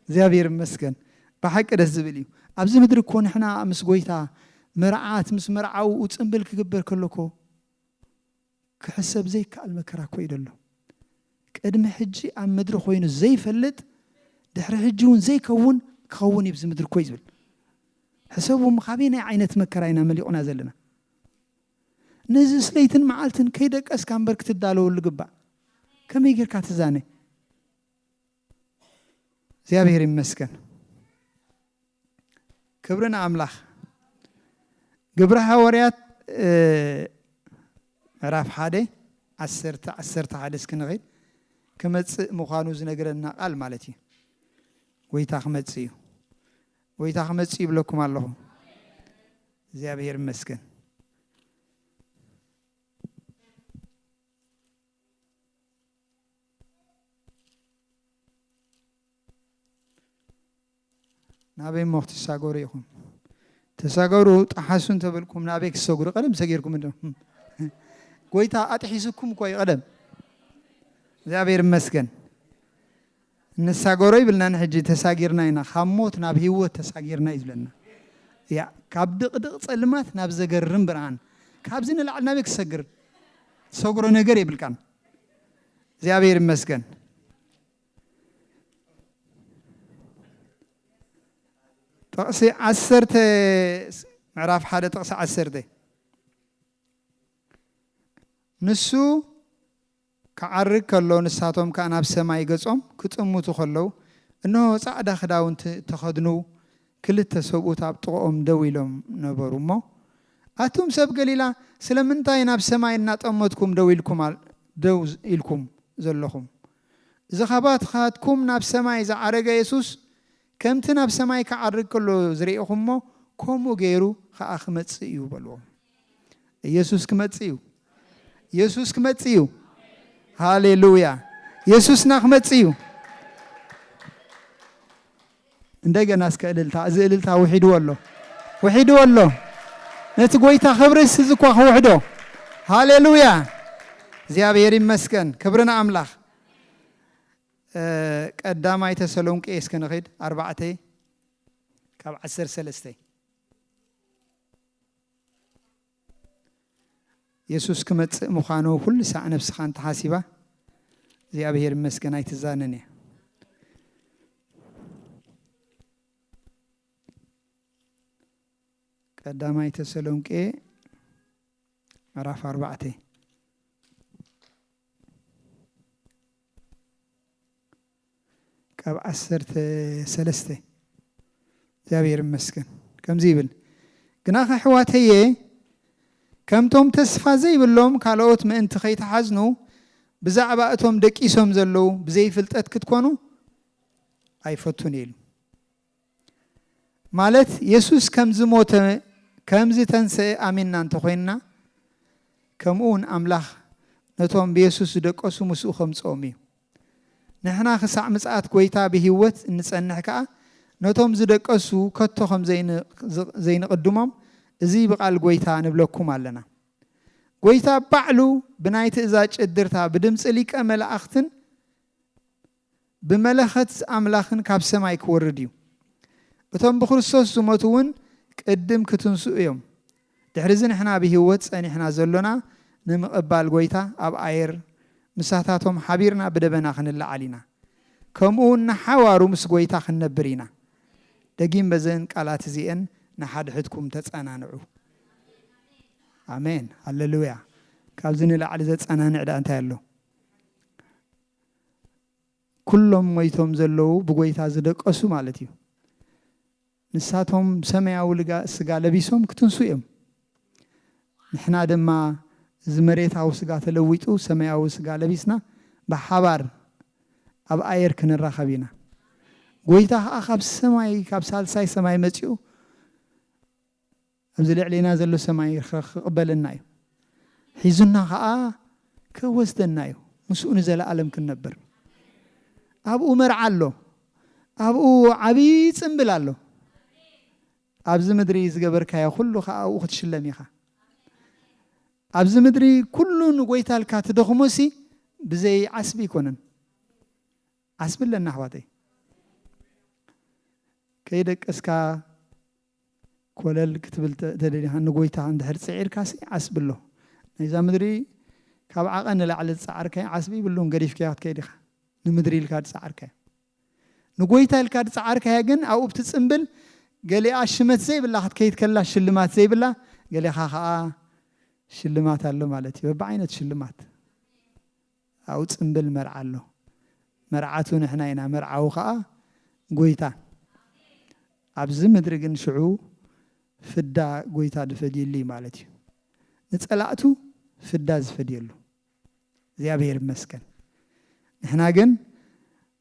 እግዚኣብሔር ይመስገን ብሓቂ ደስ ዝብል እዩ ኣብዚ ምድሪ እኮ ንሕና ምስ ጎይታ መርዓት ምስ መርዓውኡ ፅምብል ክግበር ከሎ እኮ ክሕሰብ ዘይከኣል መከራ ኮይዱ ኣሎ። ቅድሚ ሕጂ ኣብ ምድሪ ኮይኑ ዘይፈልጥ ድሕሪ ሕጂ ውን ዘይከውን ክኸውን ኢዩ ኣብዚ ምድሪ ኮይ ዝብል። ሕሰቡ እሞ ካበየናይ ዓይነት መከራ ኢና መሊቑና ዘለና። ነዚስ ለይትን መዓልትን ከይደቀስካ እምበር ክትዳለወሉ ይግባእ። ከመይ ጌርካ ትዛነ። እግዚኣብሔር ይመስገን ክብሪ ንኣምላኽ ግብረ ሃዋርያት ምዕራፍ ሓደ ዓሰርተ ዓሰርተ ሓደ እስኪ ንኸይድ ክመፅእ ምዃኑ ዝነግረና ቃል ማለት እዩ ጎይታ ክመፅእ እዩ ጎይታ ክመፅእ ይብለኩም ኣለኹ እግዚኣብሔር ይመስገን ናበይ እሞ ክትሳገሩ ኢኹም ተሳገሩ ጠሓሱ እንተበልኩም ናበይ ክሰግሩ ቀደም ሰጊርኩም እንዶ ጎይታ ኣጥሒሱኩም እኮ እዩ ቀደም እግዚኣብሔር ይመስገን ንሳገሮ ኣይብልናን ሕጂ ተሳጊርና ኢና ካብ ሞት ናብ ሂወት ተሳጊርና እዩ ዝብለና ያእ ካብ ድቅድቅ ጸልማት ናብ ዘገርም ብርሃን ካብዚ ንላዕሊ ናበይ ክትሰግር ትሰግሮ ነገር የብልካን እግዚኣብሔር ይመስገን ጥቕሲ ዓሰርተ ምዕራፍ ሓደ ጥቕሲ ዓሰርተ ንሱ ክዓርግ ከሎ ንሳቶም ከኣ ናብ ሰማይ ገጾም ክጥምቱ ከለዉ እንሆ ጻዕዳ ክዳውንቲ እተኸድኑ ክልተ ሰብኡት ኣብ ጥቕኦም ደው ኢሎም ነበሩ እሞ ኣቱም ሰብ ገሊላ ስለምንታይ ናብ ሰማይ እናጠመትኩም ደው ኢልኩም ደው ኢልኩም ዘለኹም እዚ ካባትካትኩም ናብ ሰማይ ዝዓረገ የሱስ ከምቲ ናብ ሰማይ ክዓርግ ከሎ ዝርኤኹሞ ከምኡ ገይሩ ከኣ ክመጽእ እዩ በልዎም። ኢየሱስ ክመጽእ እዩ ኢየሱስ ክመጽእ እዩ ሃሌሉያ ኢየሱስና ክመጽእ እዩ እንደገና እስከ እልልታ እዚ እልልታ ውሒድዎ ኣሎ ውሒድዎ ኣሎ ነቲ ጎይታ ክብሪ እዚ እኳ ክውሕዶ ሃሌሉያ እግዚኣብሔር ይመስገን ክብሪ ንኣምላኽ እ፣ ቀዳማይ ተሰሎንቄ እስከ ንኺድ ኣርባዕተ ካብ ዓሰርተ ሰለስተ የሱስ ክመጽእ ምዃኑ ኩሉ ሳዕ ነፍስኻ እንተ ሓሲባ እግዚኣብሄር ይመስገን ኣይትዛነን እያ። ቀዳማይ ተሰሎንቄ ምዕራፍ ኣርባዕተ ካብ ዓሰርተ ሰለስተ እግዚኣብሔር ይመስገን ከምዚ ይብል ግና ከሕዋተየ ከምቶም ተስፋ ዘይብሎም ካልኦት ምእንቲ ከይተሓዝኑ ብዛዕባ እቶም ደቂሶም ዘለዉ ብዘይፍልጠት ክትኮኑ ኣይፈቱን ኢሉ ማለት የሱስ ከም ዝሞተ ከም ዝተንስኤ ኣሚንና እንተ ዀይንና ከምኡውን ኣምላኽ ነቶም ብየሱስ ዝደቀሱ ምስኡ ከምጽኦም እዩ። ንሕና ክሳዕ ምጽኣት ጐይታ ብህይወት እንጸንሕ ከኣ ነቶም ዝደቀሱ ከቶ ከም ዘይንቕድሞም እዚ ብቓል ጐይታ ንብለኩም ኣለና። ጐይታ ባዕሉ ብናይ ትእዛዝ ጭድርታ ብድምጺ ሊቀ መላእኽትን ብመለኸት ኣምላኽን ካብ ሰማይ ኪወርድ እዩ። እቶም ብክርስቶስ ዝሞቱ እውን ቅድም ኪትንስኡ እዮም። ድሕርዚ ንሕና ብህይወት ጸኒሕና ዘሎና ንምቕባል ጐይታ ኣብ ኣየር ምሳታቶም ሓቢርና ብደበና ክንለዓል ኢና። ከምኡውን ንሓዋሩ ምስ ጐይታ ክንነብር ኢና። ደጊም በዘን ቃላት እዚኤን ንሓድሕድኩም ተጸናንዑ። ኣሜን። ሃለሉያ። ካብዚ ንላዕሊ ዘጸናንዕ ደኣ እንታይ ኣሎ? ኩሎም ሞይቶም ዘለዉ ብጎይታ ዝደቀሱ ማለት እዩ። ንሳቶም ሰማያዊ ስጋ ለቢሶም ክትንሱ እዮም። ንሕና ድማ እዚ መሬታዊ ስጋ ተለዊጡ ሰማያዊ ስጋ ለቢስና ብሓባር ኣብ ኣየር ክንራኸብ ኢና። ጎይታ ከኣ ካብ ሰማይ ካብ ሳልሳይ ሰማይ መጺኡ ኣብዚ ልዕሌና ዘሎ ሰማይ ኽቕበለና እዩ፣ ሒዙና ኸኣ ኪወስደና እዩ፣ ምስኡ ንዘለኣለም ክንነብር። ኣብኡ መርዓ ኣሎ፣ ኣብኡ ዓብዪ ጽምብል ኣሎ፣ ኣብዚ ምድሪ ዝገበርካዮ ዅሉ ኸኣ ኣብኡ ክትሽለም ኢኻ። ኣብዚ ምድሪ ኵሉ ንጐይታ ኢልካ ትደኽሞሲ ብዘይ ዓስቢ ኣይኰነን፣ ዓስቢ ኣለና ኣሕዋተይ። ከይደቀስካ ኮለል ክትብል ተደሊኻ ንጎይታኻ እንድሕር ጽዒርካሲ ዓስቢ ኣሎ። ናይዛ ምድሪ ካብ ዓቐን ንላዕሊ ዝጸዓርካዮ ዓስቢ ይብሉን ገዲፍካዮ ክትከይድ ኢኻ። ንምድሪ ኢልካ ዝጸዓርካያ። ንጎይታ ኢልካ ዝጸዓርካያ ግን ኣብኡ ብትጽምብል ገሊኣ ሽመት ዘይብላ ክትከይድ ከላ ሽልማት ዘይብላ ገሊኻ ከኣ ሽልማት ኣሎ ማለት እዩ። በብዓይነቱ ሽልማት። ኣብኡ ጽምብል መርዓ ኣሎ መርዓቱ ንሕና ኢና መርዓዊ ከኣ ጎይታ ኣብዚ ምድሪ ግን ሽዑ ፍዳ ጎይታ ድፈድየሉ እዩ ማለት እዩ ንጸላእቱ ፍዳ ዝፈድየሉ እግዚኣብሔር ይመስገን ንሕና ግን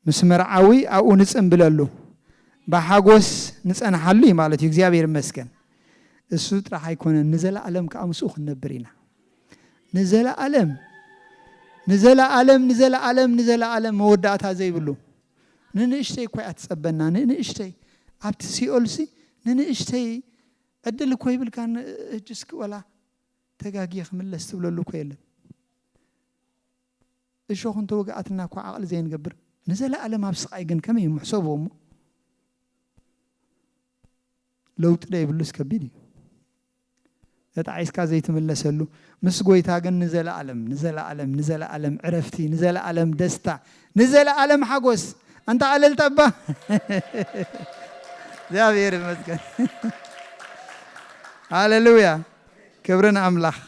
ምስ መርዓዊ ኣብኡ ንጽንብለሉ ብሓጎስ ንጸንሓሉ እዩ ማለት እዩ እግዚኣብሔር ይመስገን እሱ ጥራሕ ኣይኮነን ንዘላኣለም ከኣ ምስኡ ክንነብር ኢና ንዘላኣለም ንዘላኣለም ንዘላኣለም ንዘላኣለም መወዳእታ ዘይብሉ ንንእሽተይ እኳ እያ ትጸበና ንንእሽተይ ኣብቲ ሲኦልሲ ንንእሽተይ ዕድል እኮ ይብልካ እጅስኪ ወላ ተጋጊየ ክምለስ ትብለሉ እኮ የለን እሾኽ እንተ ወግኣትና እኳ ዓቕሊ ዘይንገብር፣ ንዘለኣለም ኣብ ስቓይ ግን ከመይ እሞ? ሕሰብዎ እሞ። ለውጢ ደይብሉስ ከቢድ እዩ። ተጣዒስካ ዘይትምለሰሉ፣ ምስ ጐይታ ግን ንዘለኣለም፣ ንዘለኣለም፣ ንዘለኣለም ዕረፍቲ፣ ንዘለኣለም ደስታ፣ ንዘለኣለም ሓጐስ። ኣንታ እልልታ እባ! እግዚኣብሔር ይመስገን። ሃሌሉያ! ክብሪ ንኣምላኽ።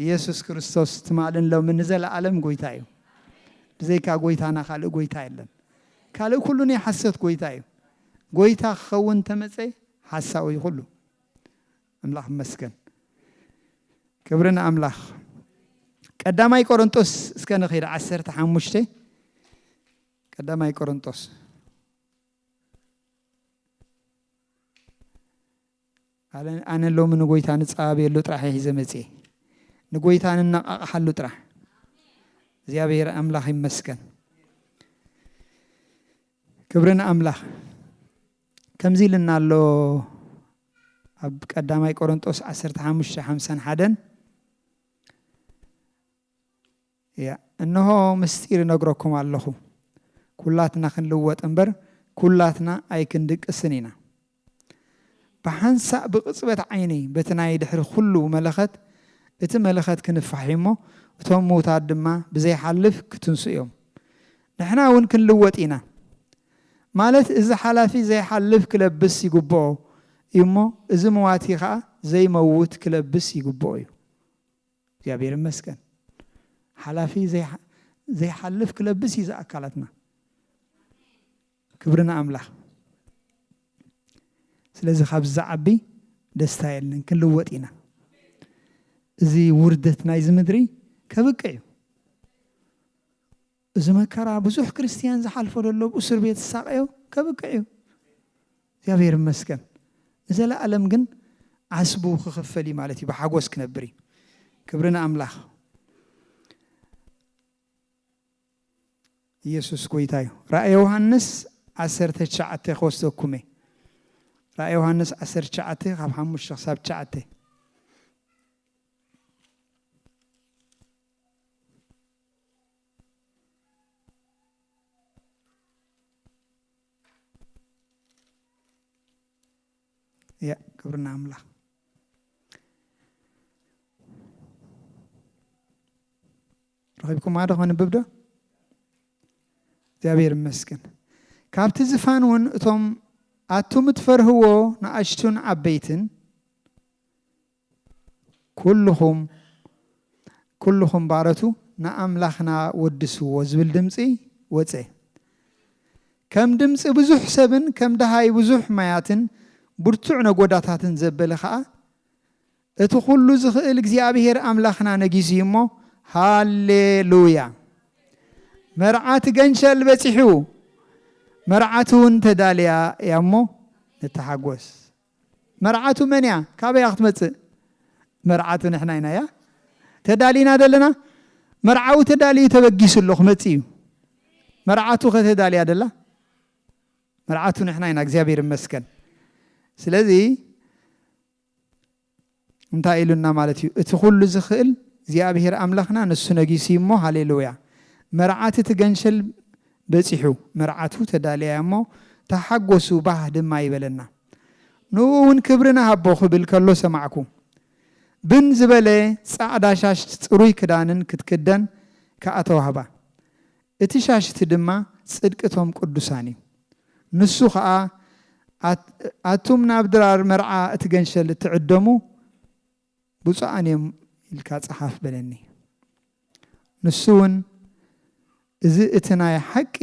ኢየሱስ ክርስቶስ ትማልን ሎምን ንዘለዓለም ጎይታ እዩ ብዘይካ ጎይታና ካልእ ጎይታ የለን ካልእ ኩሉ ናይ ሓሶት ጎይታ እዩ ጎይታ ክኸውን ተመጸ ሓሳዊ እዩ ኩሉ ኣምላኽ ይመስገን ክብሪ ንኣምላኽ ቀዳማይ ቆሮንጦስ እስከ ንኺድ ዓሰርተ ሓሙሽተ ቀዳማይ ቆሮንጦስ ኣነ ሎሚ ንጎይታ ንጻበየሉ ጥራሕ እየ ሒዘ መጽየ ንጎይታ ንነቃቃሓሉ ጥራሕ እግዚኣብሔር ኣምላኽ ይመስገን ክብሪ ንኣምላኽ ከምዚ ኢልና ኣሎ ኣብ ቀዳማይ ቆሮንጦስ 15 51 እንሆ ምስጢር እነግረኩም ኣለኹ፣ ኵላትና ክንልወጥ እምበር፣ ኵላትና ኣይክንድቅስን ኢና። ብሓንሳእ ብቕጽበት ዓይኒ በቲ ናይ ድሕሪ ኵሉ መለኸት፣ እቲ መለኸት ክንፋሕ እዩ እሞ፣ እቶም ምዉታት ድማ ብዘይሓልፍ ክትንስኡ እዮም። ንሕና እውን ክንልወጥ ኢና። ማለት እዚ ሓላፊ ዘይሓልፍ ክለብስ ይግብኦ እዩ እሞ፣ እዚ መዋቲ ኸኣ ዘይመውት ክለብስ ይግብኦ እዩ። እግዚኣብሔር ይመስገን ሓላፊ ዘይሓልፍ ክለብስ እዩ ዝኣካላትና ክብሪ ንኣምላኽ ስለዚ ካብዚ ዝዓቢ ደስታ የለን ክንልወጥ ኢና እዚ ውርደት ናይዚ ምድሪ ከብቅዕ እዩ እዚ መከራ ብዙሕ ክርስትያን ዝሓልፎ ዶ ኣሎ ብ እሱር ቤት ዝሳቀዮ ከብቅዕ እዩ እግዚኣብሔር ይመስገን ንዘላኣለም ግን ዓስቡ ክክፈል እዩ ማለት እዩ ብሓጎስ ክነብር እዩ ክብሪ ንኣምላክ ኢየሱስ ጎይታ እዩ ራእይ ዮሃንስ ዓሰርተ ትሽዓተ ክወስደኩም እየ ራእይ ዮሃንስ ዓሰርተ ትሽዓተ ካብ ሓሙሽተ ክሳብ ትሽዓተ ያ ክብርና ኣምላኽ ረኺብኩማ ዶ ከንብብ ዶ እግዚኣብሔር ይመስገን ካብቲ ዝፋን እውን እቶም ኣቱም እትፈርህዎ ንኣሽቱን ዓበይትን ኩሉኹም ኩሉኹም ባሮቱ ንኣምላኽና ወድስዎ ዝብል ድምጺ ወጸ። ከም ድምጺ ብዙሕ ሰብን ከም ደሃይ ብዙሕ ማያትን ብርቱዕ ነጎዳታትን ዘበለ ኸኣ፣ እቲ ኹሉ ዝኽእል እግዚኣብሄር ኣምላኽና ነጊሱ እዩ እሞ፣ ሃሌ ሉያ! መርዓት ገንሸል በጺሑ፣ መርዓትውን ተዳልያ እያ እሞ ንተሓጎስ። መርዓቱ መን'ያ? ካበይ እያ ክትመጽእ? መርዓቱ ንሕና ኢና እያ ተዳሊና ደለና። መርዓዊ ተዳልዩ ተበጊሱ ኣሎ ክመጽእ እዩ። መርዓቱኸ ተዳልያ ደላ? መርዓቱ ንሕና ኢና እግዚኣብሔር ይመስገን። ስለዚ እንታይ ኢሉና ማለት እዩ እቲ ኩሉ ዝኽእል እግዚኣብሔር ኣምላኽና ንሱ ነጊሱ እዩ እሞ ሃሌሉያ መርዓት እቲ ገንሸል በጺሑ መርዓቱ ተዳልያ እያ እሞ ተሓጎሱ ባህ ድማ ይበለና ንኡ እውን ክብሪ ንሃቦ ክብል ከሎ ሰማዕኩ ብን ዝበለ ጻዕዳ ሻሽ ጽሩይ ክዳንን ክትክደን ከኣ ተዋህባ እቲ ሻሽ እቲ ድማ ጽድቂ እቶም ቅዱሳን እዩ። ንሱ ኸኣ ኣቱም ናብ ድራር መርዓ እቲ ገንሸል እትዕደሙ ብፁዓን እዮም ኢልካ ጸሓፍ በለኒ። ንሱውን እዚ እቲ ናይ ሓቂ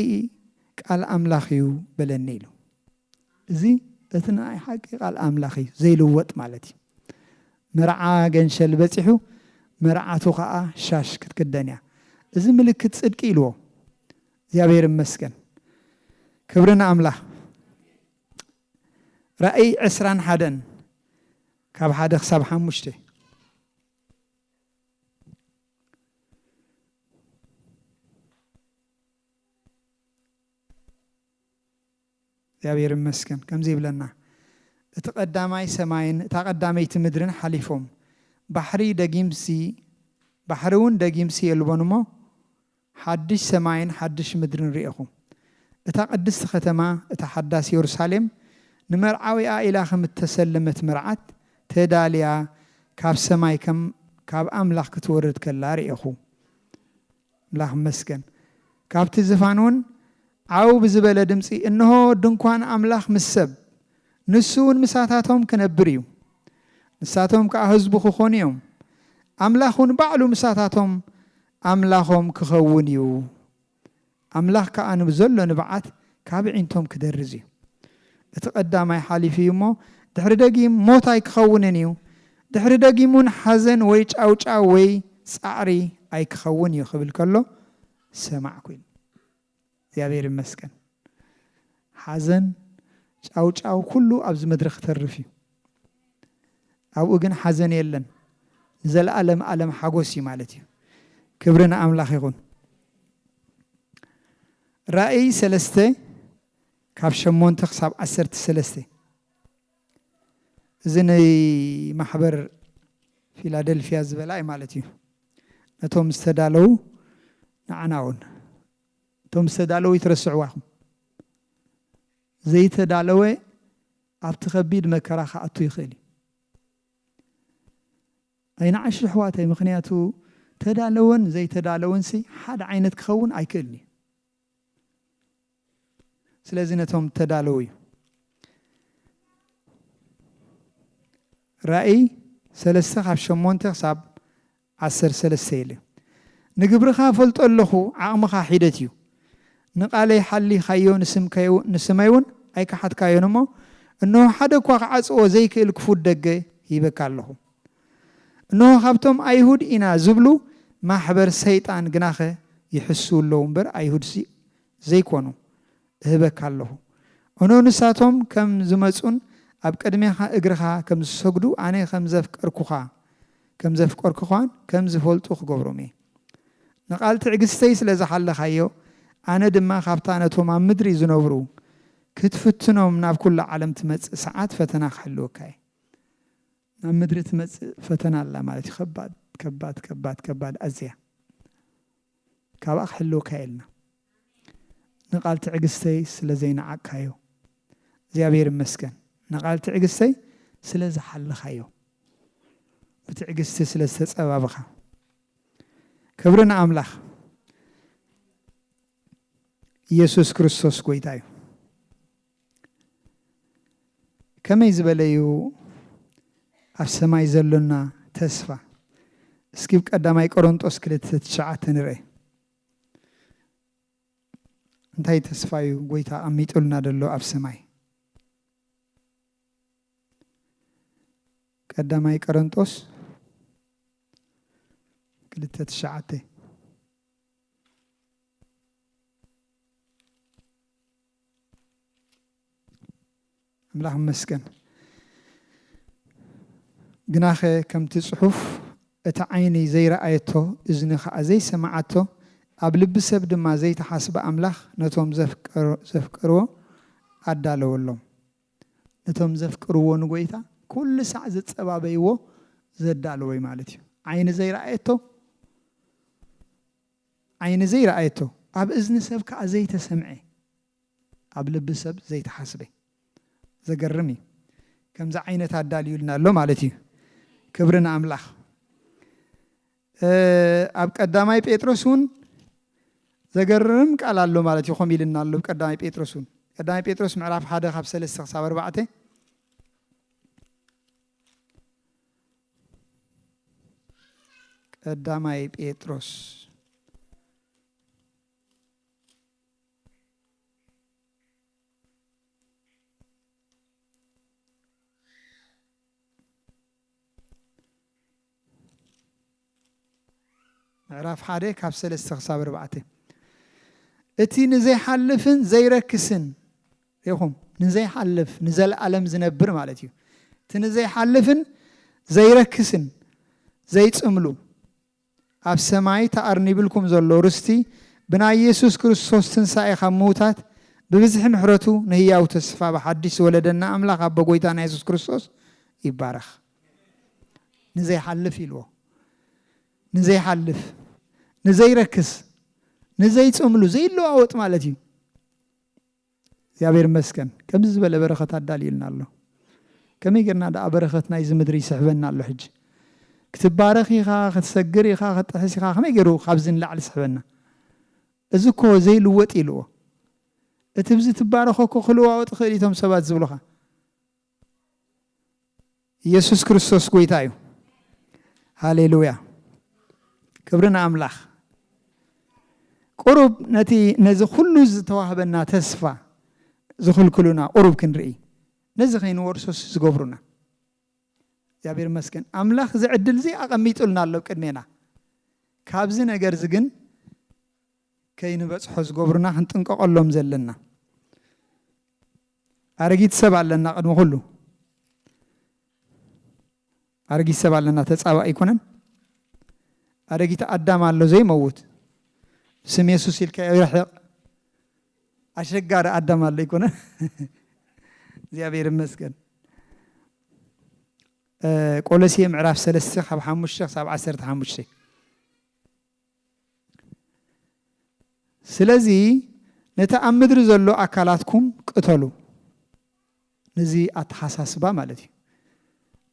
ቃል ኣምላኽ እዩ በለኒ ኢሉ። እዚ እቲ ንኣይ ሓቂ ቃል ኣምላኽ እዩ ዘይልወጥ ማለት እዩ መርዓ ገንሸል በጺሑ መርዓቱ ከኣ ሻሽ ክትክደን እያ እዚ ምልክት ጽድቂ ኢልዎ እግዚኣብሔር ይመስገን ክብሪ ንኣምላኽ ራእይ ዕስራን ሓደን ካብ ሓደ ክሳብ ሓሙሽተ እግዚኣብሔር ይመስገን ከምዚ ይብለና እቲ ቀዳማይ ሰማይን እታ ቀዳመይቲ ምድርን ሓሊፎም ባሕሪ ደጊምሲ ባሕሪ እውን ደጊምሲ የልቦን እሞ ሓድሽ ሰማይን ሓድሽ ምድርን ርኤኹ እታ ቅድስቲ ከተማ እታ ሓዳስ የሩሳሌም ንመርዓዊኣ ኢላ ከም እተሰለመት መርዓት ተዳልያ ካብ ሰማይ ከም ካብ ኣምላኽ ክትወርድ ከላ ርኤኹ ኣምላኽ ይመስገን ካብቲ ዝፋን እውን ዓው ብዝበለ ድምጺ እንሆ ድንኳን ኣምላኽ ምስ ሰብ ንሱ እውን ምሳታቶም ክነብር እዩ ንሳቶም ከኣ ህዝቡ ክኾኑ እዮም ኣምላኽ እውን ባዕሉ ምሳታቶም ኣምላኾም ክኸውን እዩ ኣምላኽ ከኣ ንብዘሎ ንብዓት ካብ ኣዒንቶም ክደርዝ እዩ። እቲ ቀዳማይ ሓሊፉ እዩ እሞ፣ ድሕሪ ደጊም ሞት ኣይክኸውንን እዩ። ድሕሪ ደጊም እውን ሓዘን ወይ ጫውጫው ወይ ጻዕሪ ኣይክኸውን እዩ ክብል ከሎ ሰማዕኩ ኢሉ። እግዚኣብሔር ይመስገን። ሓዘን፣ ጫውጫው ኩሉ ኣብዚ ምድሪ ክተርፍ እዩ። ኣብኡ ግን ሓዘን የለን ንዘለኣለም ኣለም ሓጎስ እዩ ማለት እዩ ክብሪ ንኣምላኽ ይኹን ራእይ ሰለስተ ካብ ሸሞንተ ክሳብ ዓሰርተ ሰለስተ እዚ ንማሕበር ፊላደልፊያ ዝበላ እዩ ማለት እዩ ነቶም ዝተዳለው ንዓና እውን እቶም ዝተዳለው ይትረስዕዋ ኢኹም ዘይተዳለወ ኣብቲ ከቢድ መከራ ክኣቱ ይኽእል እዩ። ኣይንዓሽ የሕዋተይ ምኽንያቱ ተዳለወን ዘይተዳለወንሲ ሓደ ዓይነት ክኸውን ኣይክእልን እዩ። ስለዚ ነቶም ተዳለዉ እዩ። ራእይ ሰለስተ ካብ ሸሞንተ ክሳብ ዓሰርተ ሰለስተ የለ ንግብርኻ እፈልጦ ኣለኹ ዓቕምኻ ሒደት እዩ ንቓለይ ሓሊኻዮ ንስመይውን ኣይከሓድካዮን እሞ እንሆ ሓደ እኳ ክዓጽዎ ዘይክእል ክፉት ደገ ሂበካ ኣለኹ እንሆ ካብቶም ኣይሁድ ኢና ዝብሉ ማሕበር ሰይጣን ግናኸ ይሕስዉ ኣለዉ እምበር ኣይሁድሲ ዘይኮኑ እህበካ ኣሎኹ። እኖ ንሳቶም ከም ዝመጹን ኣብ ቅድሜኻ እግርኻ ከም ዝሰግዱ ኣነ ከም ዘፍቀርኩኻ ከም ዘፍቀርኩኻን ከም ዝፈልጡ ክገብሮም እየ። ንቓል ትዕግስተይ ስለ ዝሓለኻዮ ኣነ ድማ ካብታ ነቶም ኣብ ምድሪ ዝነብሩ ክትፍትኖም ናብ ኩሉ ዓለም ትመጽእ ሰዓት ፈተና ክሕልወካ እየ። ናብ ምድሪ ትመጽእ ፈተና ኣላ ማለት እዩ ከባድ ከባድ ከባድ ከባድ ኣዝያ ካብኣ ክሕልወካ እየ ኢልና። ንቃል ትዕግስተይ ስለ ዘይነዓቅካዮ እግዚኣብሔር ይመስገን ንቃል ትዕግስተይ ስለ ዝሓለኻዮ ብትዕግስቲ ስለ ዝተጸባብኻ ክብሪ ንኣምላኽ ኢየሱስ ክርስቶስ ጎይታ እዩ ከመይ ዝበለዩ ኣብ ሰማይ ዘሎና ተስፋ እስኪ ብ ቀዳማይ ቆሮንጦስ ክልተ ትሽዓተ ንርእ እንታይ ተስፋ እዩ ጎይታ ኣሚጡልና ደሎ ኣብ ሰማይ? ቀዳማይ ቀረንጦስ ክልተ ትሽዓተ ኣምላኽ ይመስገን። ግናኸ ከምቲ ጽሑፍ እታ ዓይኒ ዘይረኣየቶ እዝኒ ኸኣ ዘይሰመዓቶ ኣብ ልቢ ሰብ ድማ ዘይተሓስበ ኣምላኽ ነቶም ዘፍቀርዎ ኣዳለወሎም። ነቶም ዘፍቅርዎ ንጐይታ ኩሉ ሳዕ ዝጸባበይዎ ዘዳለዎ እዩ ማለት እዩ። ዓይኒ ዘይረኣየቶ ዓይኒ ዘይረኣየቶ ኣብ እዝኒ ሰብ ከኣ ዘይተሰምዐ ኣብ ልቢ ሰብ ዘይተሓስበ ዘገርም እዩ ከምዚ ዓይነት ኣዳልዩልና ኣሎ ማለት እዩ ክብሪ ንኣምላኽ ኣብ ቀዳማይ ጴጥሮስ እውን ዘገርም ቃል ኣሎ ማለት እዩ ከምኡ ኢልና ኣሎ ቀዳማይ ጴጥሮስ እውን ቀዳማይ ጴጥሮስ ምዕራፍ ሓደ ካብ ሰለስተ ክሳብ ኣርባዕተ ቀዳማይ ጴጥሮስ ምዕራፍ ሓደ ካብ ሰለስተ ክሳብ ኣርባዕተ እቲ ንዘይሓልፍን ዘይረክስን ይኹም ንዘይሓልፍ ንዘለኣለም ዝነብር ማለት እዩ እቲ ንዘይሓልፍን ዘይረክስን ዘይፅምሉ ኣብ ሰማይ ተኣርኒብልኩም ዘሎ ርስቲ ብናይ የሱስ ክርስቶስ ትንሳኤ ካብ ምዉታት ብብዝሒ ምሕረቱ ንህያዉ ተስፋ ብሓድሽ ዝወለደና ኣምላኽ ኣቦ ጎይታና የሱስ ክርስቶስ ይባረኽ። ንዘይሓልፍ ኢልዎ ንዘይሓልፍ ንዘይረክስ ንዘይጽምሉ ዘይለዋወጥ ማለት እዩ። እግዚኣብሔር ይመስገን ከምዚ ዝበለ በረከት ኣዳልዩልና ኣሎ ከመይ ጌርና ደኣ በረከት ናይዚ ምድሪ ይስሕበና ኣሎ ሕጂ ክትባረክ ኢካ ክትሰግር ኢካ ክትጥሕስ ኢካ ከመይ ጌሩ ካብዚ ንላዕሊ ይስሕበና እዚ እኮ ዘይልወጥ ኢልዎ እቲ ብዚ ትባረኮ እኮ ክልዋወጥ ይክእል ኢዩ እቶም ሰባት ዝብሉካ ኢየሱስ ክርስቶስ ጎይታ እዩ። ሃሌሉያ ክብሪ ንኣምላኽ። ቁሩብ ነቲ ነዚ ኩሉ ዝተዋህበና ተስፋ ዝኽልክሉና ቁሩብ ክንርኢ ነዚ ከይንወርሶስ ዝገብሩና እግዚኣብሔር ይመስገን ኣምላኽ እዚ ዕድል እዚ ኣቐሚጡልና ኣሎ ቅድሜና ካብዚ ነገር እዚ ግን ከይንበጽሖ ዝገብሩና ክንጥንቀቀሎም ዘለና ኣረጊት ሰብ ኣለና ቅድሚ ኩሉ ኣረጊት ሰብ ኣለና ተጻባእ ኣይኮነን ኣረጊት ኣዳም ኣሎ ዘይመውት ስም የሱስ ኢልካዮ ይርሕቕ ኣሸጋሪ ኣዳም ኣሎ ኣይኮነ እግዚኣብሔር ይመስገን ቆሎሴ ምዕራፍ ሰለስተ ካብ ሓሙሽተ ክሳብ ዓሰርተ ሓሙሽተ ስለዚ ነቲ ኣብ ምድሪ ዘሎ ኣካላትኩም ቅተሉ። ነዚ ኣተሓሳስባ ማለት እዩ።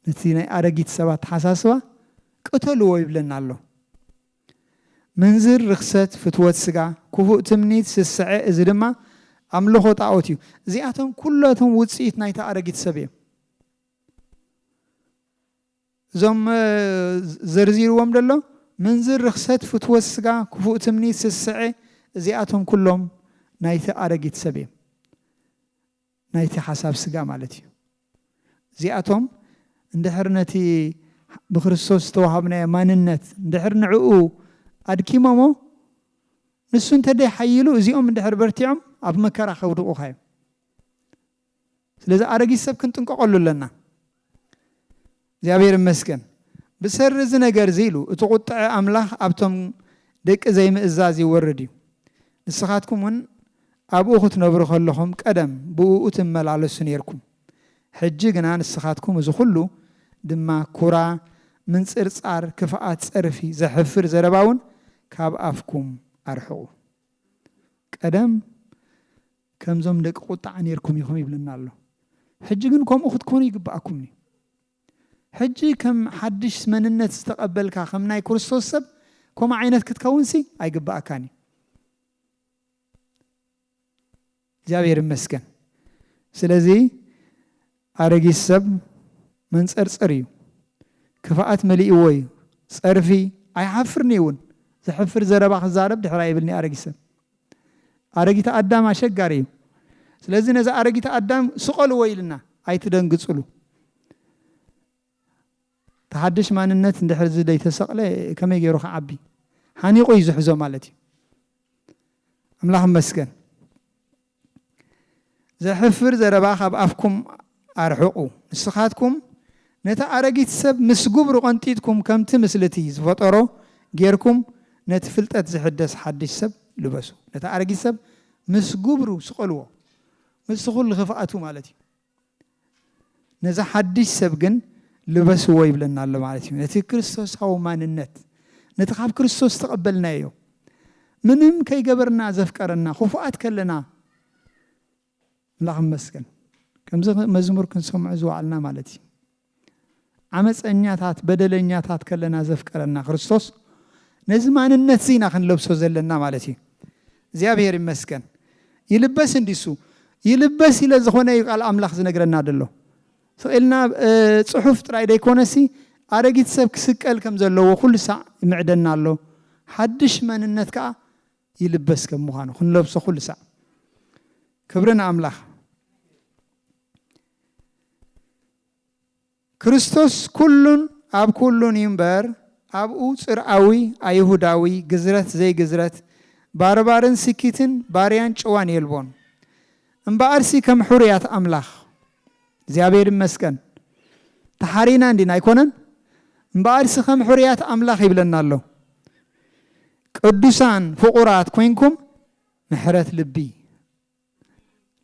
ነቲ ናይ ኣረጊት ሰብ ኣተሓሳስባ ቅተልዎ ይብለና ኣሎ። ምንዝር፣ ርኽሰት፣ ፍትወት ስጋ፣ ክፉእ ትምኒት፣ ስስዐ፣ እዚ ድማ ኣምልኾ ጣኦት እዩ። እዚኣቶም ኩላቶም ውጽኢት ናይቲ ኣረጊት ሰብ እዮም። እዞም ዘርዚርዎም ደሎ ምንዝር ርኽሰት ፍትወት ስጋ ክፉእ ትምኒት ስስዐ እዚኣቶም ኩሎም ናይቲ ኣረጊት ሰብ እዮም ናይቲ ሓሳብ ስጋ ማለት እዩ እዚኣቶም እንድሕር ነቲ ብክርስቶስ ዝተዋሃብናዮ ማንነት እንድሕር ንዕኡ ኣድኪሞሞ ንሱ እንተደይ ሓይሉ እዚኦም እንድሕር በርቲዖም ኣብ መከራ ከውድቑኻ እዮም ስለዚ ኣረጊት ሰብ ክንጥንቀቀሉ ኣለና እግዚኣብሔር ይመስገን ብሰሪ እዚ ነገር እዚ ኢሉ እቲ ቁጥዐ ኣምላኽ ኣብቶም ደቂ ዘይምእዛዝ ይወርድ እዩ ንስኻትኩም እውን ኣብኡ ክትነብሩ ከለኹም ቀደም ብእኡ ትመላለሱ ነርኩም ሕጂ ግና ንስኻትኩም እዚ ኩሉ ድማ ኩራ ምንጽርጻር ክፍኣት ጸርፊ ዘሕፍር ዘረባ እውን ካብ ኣፍኩም ኣርሕቁ ቀደም ከምዞም ደቂ ቁጥዓ ኔርኩም ኢኹም ይብለና ኣሎ ሕጂ ግን ከምኡ ክትኮኑ ይግብኣኩም እዩ ሕጂ ከም ሓድሽ መንነት ዝተቀበልካ ከም ናይ ክርስቶስ ሰብ ከምኡ ዓይነት ክትከውንሲ ኣይግብኣካን እዩ እግዚኣብሔር ይመስገን ስለዚ ኣረጊት ሰብ መንፀርፀር እዩ ክፍኣት መሊእዎ እዩ ፀርፊ ኣይሓፍርኒ እውን ዘሕፍር ዘረባ ክዛረብ ድሕራ ይብልኒ ኣረጊት ሰብ ኣረጊት ኣዳም ኣሸጋሪ እዩ ስለዚ ነዚ ኣረጊት ኣዳም ስቀልዎ ኢልና ኣይትደንግፅሉ ተሓድሽ ማንነት እንድሕር ዘይተሰቕለ ከመይ ገይሩ ክዓቢ ሓኒቑ እዩ ዝሕዞ ማለት እዩ ኣምላኽ መስገን ዘሕፍር ዘረባ ካብ ኣፍኩም ኣርሕቁ ንስካትኩም ነታ ኣረጊት ሰብ ምስ ጉብሩ ቀንጢጥኩም ከምቲ ምስልቲ ዝፈጠሮ ጌርኩም ነቲ ፍልጠት ዝሕደስ ሓድሽ ሰብ ልበሱ ነታ ኣረጊት ሰብ ምስ ጉብሩ ስቀልዎ ምስ ኩሉ ክፍኣቱ ማለት እዩ ነዚ ሓድሽ ሰብ ግን ልበስዎ ይብለና ኣሎ ማለት እዩ። ነቲ ክርስቶሳዊ ማንነት፣ ነቲ ካብ ክርስቶስ ዝተቐበልናዮ ምንም ከይገበርና ዘፍቀረና፣ ክፉኣት ከለና ኣምላኽ ይመስገን ከምዚ መዝሙር ክንሰምዖ ዝወዓልና ማለት እዩ። ዓመጸኛታት በደለኛታት ከለና ዘፍቀረና ክርስቶስ ነዚ ማንነትዚ ኢና ክንለብሶ ዘለና ማለት እዩ እግዚኣብሔር ይመስገን ይልበስ እንዲ እሱ ይልበስ ኢለ ዝኾነ እዩ ቃል ኣምላኽ ዝነግረና ደሎ ስቕልና ጽሑፍ ጥራይ ደይኮነሲ ኣረጊት ሰብ ክስቀል ከም ዘለዎ ኩሉ ሳዕ ይምዕደና ኣሎ ሓድሽ መንነት ከኣ ይልበስ ከም ምዃኑ ክንለብሶ ኩሉ ሳዕ ክብሪ ንኣምላኽ ክርስቶስ ኩሉን ኣብ ኩሉን እዩ እምበር ኣብኡ ጽርኣዊ ኣይሁዳዊ ግዝረት ዘይግዝረት ባርባርን ስኪትን ባርያን ጭዋን የልቦን እምበኣርሲ ከም ሑሩያት ኣምላኽ እግዚኣብሔር ይመስገን ተሓሪና እንዲና ኣይኮነን እምበኣርሲ ከም ሑሩያት ኣምላኽ ይብለና ኣሎ ቅዱሳን ፍቁራት ኮይንኩም ምሕረት ልቢ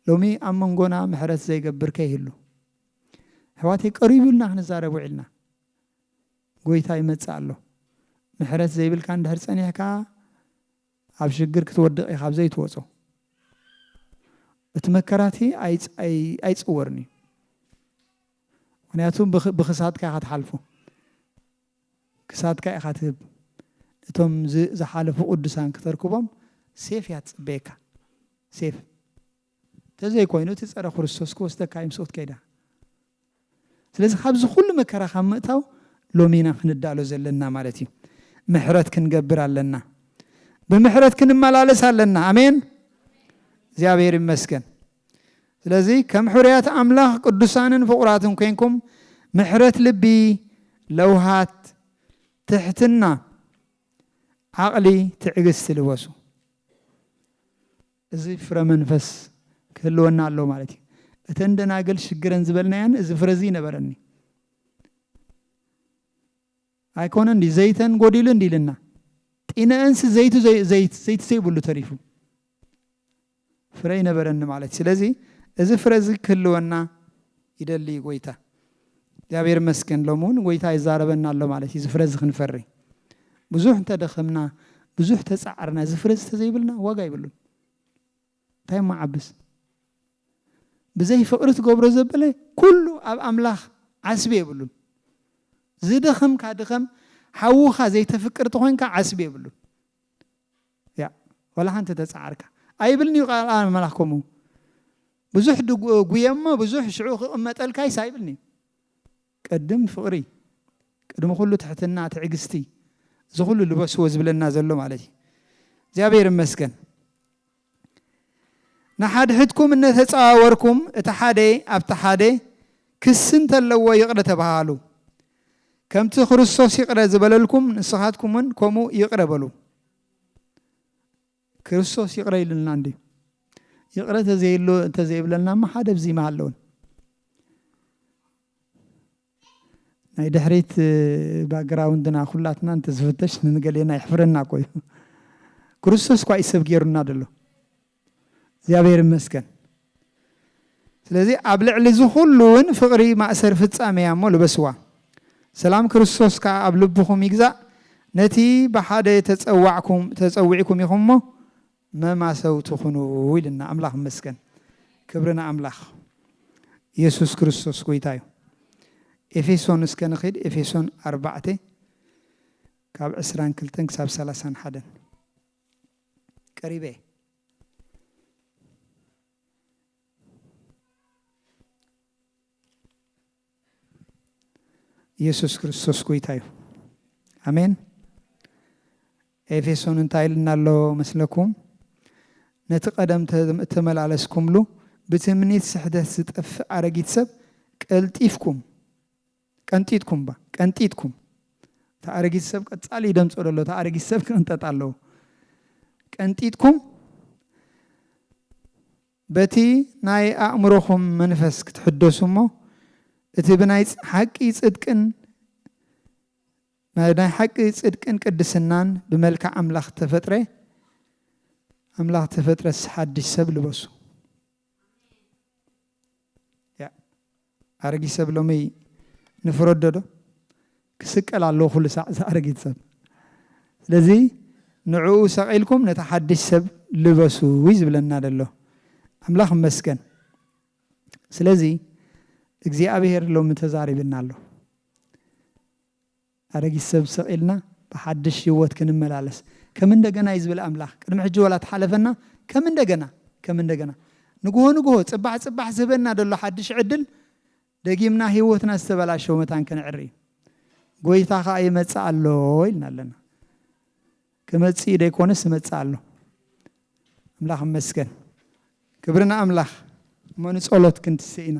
ሎሚ ኣብ መንጎና ምሕረት ዘይገብር ከይህሉ ኣሕዋተይ ቀሪቡ ኢልና ክንዛረብ ውዒልና ጎይታ ይመጽእ ኣሎ ምሕረት ዘይብልካ እንድሕር ጸኒሕካ ኣብ ሽግር ክትወድቕ ኢኻ ዘይትወጾ እቲ መከራቲ ኣይጽወርን እዩ ምክንያቱ ብክሳድካ ኢኻ ትሓልፎ ክሳድካ ኢኻ ትህብ እቶም ዝሓለፉ ቁዱሳን ክተርክቦም ሴፍ እያ ትጽበየካ ሴፍ ተዘይ ኮይኑ እቲ ጸረ ክርስቶስ ክወስደካ እዩ ምስኡ ክትከይዳ ስለዚ ካብዚ ኩሉ መከራ ካብ ምእታው ሎሚና ክንዳሎ ዘለና ማለት እዩ ምሕረት ክንገብር ኣለና ብምሕረት ክንመላለስ ኣለና ኣሜን እግዚኣብሔር ይመስገን ስለዚ ከም ሕሩያት ኣምላኽ ቅዱሳንን ፍቑራትን ኮይንኩም ምሕረት ልቢ፣ ለውሃት፣ ትሕትና፣ ዓቕሊ፣ ትዕግስቲ ልበሱ። እዚ ፍረ መንፈስ ክህልወና ኣለዎ ማለት እዩ። እተን ደናግል ሽግረን ዝበልናየን እዚ ፍረ እዚ ይነበረኒ ኣይኮነን ድዩ ዘይተን ጎዲሉ እንዲ ኢልና ጢነእንሲ ዘይቱ ዘይት ዘይቲ ዘይብሉ ተሪፉ ፍረ ይነበረኒ ማለት ስለዚ እዚ ፍረ እዚ ክህልወና ይደሊ እዩ ጎይታ እግዚኣብሔር መስገን ሎም እውን ጎይታ ይዛረበና ኣሎ ማለት እዩ ዝፍረ እዚ ክንፈሪ ብዙሕ እንተደኸምና ብዙሕ ተፃዕርና ዝፍረ ዝተዘይብልና ዋጋ ይብሉን እንታይ እሞ ዓብስ ብዘይ ፍቅሪ ትገብሮ ዘበለ ኩሉ ኣብ ኣምላኽ ዓስቢ የብሉን ዝደኸምካ ድኸም ሓውኻ ዘይተፍቅር ተኾይንካ ዓስቢ የብሉን ያ ወላ ሓንቲ ተጻዓርካ ኣይብልንዩ ቃል ኣምላኽ ከምኡ ብዙሕ ጉየ እሞ ብዙሕ ሽዑ ክቕመጠልካይስ ኣይብልንዩ ቅድም ፍቕሪ፣ ቅድሚ ኩሉ ትሕትና፣ ትዕግስቲ፣ እዚ ኩሉ ልበስዎ ዝብለና ዘሎ ማለት እዩ። እግዚኣብሔር ይመስገን። ንሓድሕድኩም እነተጸዋወርኩም እቲ ሓደ ኣብቲ ሓደ ክሲ እንተለዎ ይቕረ ተበሃሃሉ። ከምቲ ክርስቶስ ይቕረ ዝበለልኩም ንስኻትኩምውን ከምኡ ይቕረ በሉ። ክርስቶስ ይቕረ ኢሉልና እንድዩ። ይቕረ ተዘይሎ እንተዘይብለና እሞ ሓደ ብዚ ምሃለወን። ናይ ድሕሪት ባግራውንድና ኩላትና እንተዝፍተሽ ንገሌና የሕፍረና እኮ እዩ። ክርስቶስ እኳ እዩ ሰብ ገይሩና ደሎ። እግዚኣብሔር ይመስገን። ስለዚ ኣብ ልዕሊ እዚ ኩሉ ውን ፍቅሪ ማእሰር ፍጻሜ እያ እሞ ልበስዋ። ሰላም ክርስቶስ ከኣ ኣብ ልብኹም ይግዛእ ነቲ ብሓደ ተጸዋዕኩም ተጸዊዕኩም ኢኹም እሞ መማሰውቲ ኩኑ ኢሉና ኣምላኽ ይመስገን ክብሪ ንኣምላኽ የሱስ ክርስቶስ ጎይታ እዩ። ኤፌሶን እስከ ንኺድ ኤፌሶን ኣርባዕተ ካብ ዕስራን ክልተን ክሳብ ሰላሳን ሓደን ቀሪበ እየ። ኢየሱስ ክርስቶስ ጎይታ እዩ ኣሜን ኤፌሶን እንታይ ኢልና ኣሎ መስለኩም ነቲ ቀደም ተመላለስኩምሉ ብትምኒት ስሕተት ዝጠፍእ ኣረጊት ሰብ ቀልጢፍኩም ቀንጢጥኩም እባ ቀንጢጥኩም እቲ ኣረጊት ሰብ ቀጻሊ ይደምጾ ደሎ እቲ ኣረጊት ሰብ ክቕንጠጥ ኣለዎ ቀንጢጥኩም በቲ ናይ ኣእምሮኹም መንፈስ ክትሕደሱ እሞ እቲ ብናይ ሓቂ ጽድቅን ናይ ሓቂ ጽድቅን ቅድስናን ብመልክዕ ኣምላኽ ተፈጥረ ኣምላኽ ተፈጥረስ ሓድሽ ሰብ ልበሱ ኣረጊት ሰብ ሎሚ ንፍረዶ ዶ ክስቀል ኣለዎ ኩሉ ሳዕ እዚ ኣረጊት ሰብ ስለዚ ንዕኡ ሰቂልኩም ነቲ ሓድሽ ሰብ ልበሱ እዩ ዝብለና ዘሎ ኣምላኽ መስገን ስለዚ እግዚኣብሔር ሎሚ ተዛሪብና ኣሎ ኣረጊት ሰብ ሰቒልና ብሓድሽ ህይወት ክንመላለስ ከም እንደገና እዩ ዝብል ኣምላኽ ቅድሚ ሕጂ ዋላ ተሓለፈና ከም እንደገና ከም እንደገና ንግሆ ንግሆ ጽባሕ ጽባሕ ዝህበና ዘሎ ሓድሽ ዕድል ደጊምና ህይወትና ዝተበላሸወ መታን ክንዕሪ እዩ ጎይታ ከኣ ይመጽእ ኣሎ ኢልና ኣለና ክመጽእ ደይኮነስ ይመጽእ ኣሎ ኣምላኽ መስገን ክብሪ ንኣምላኽ እሞ ንጸሎት ክንትስእ ኢና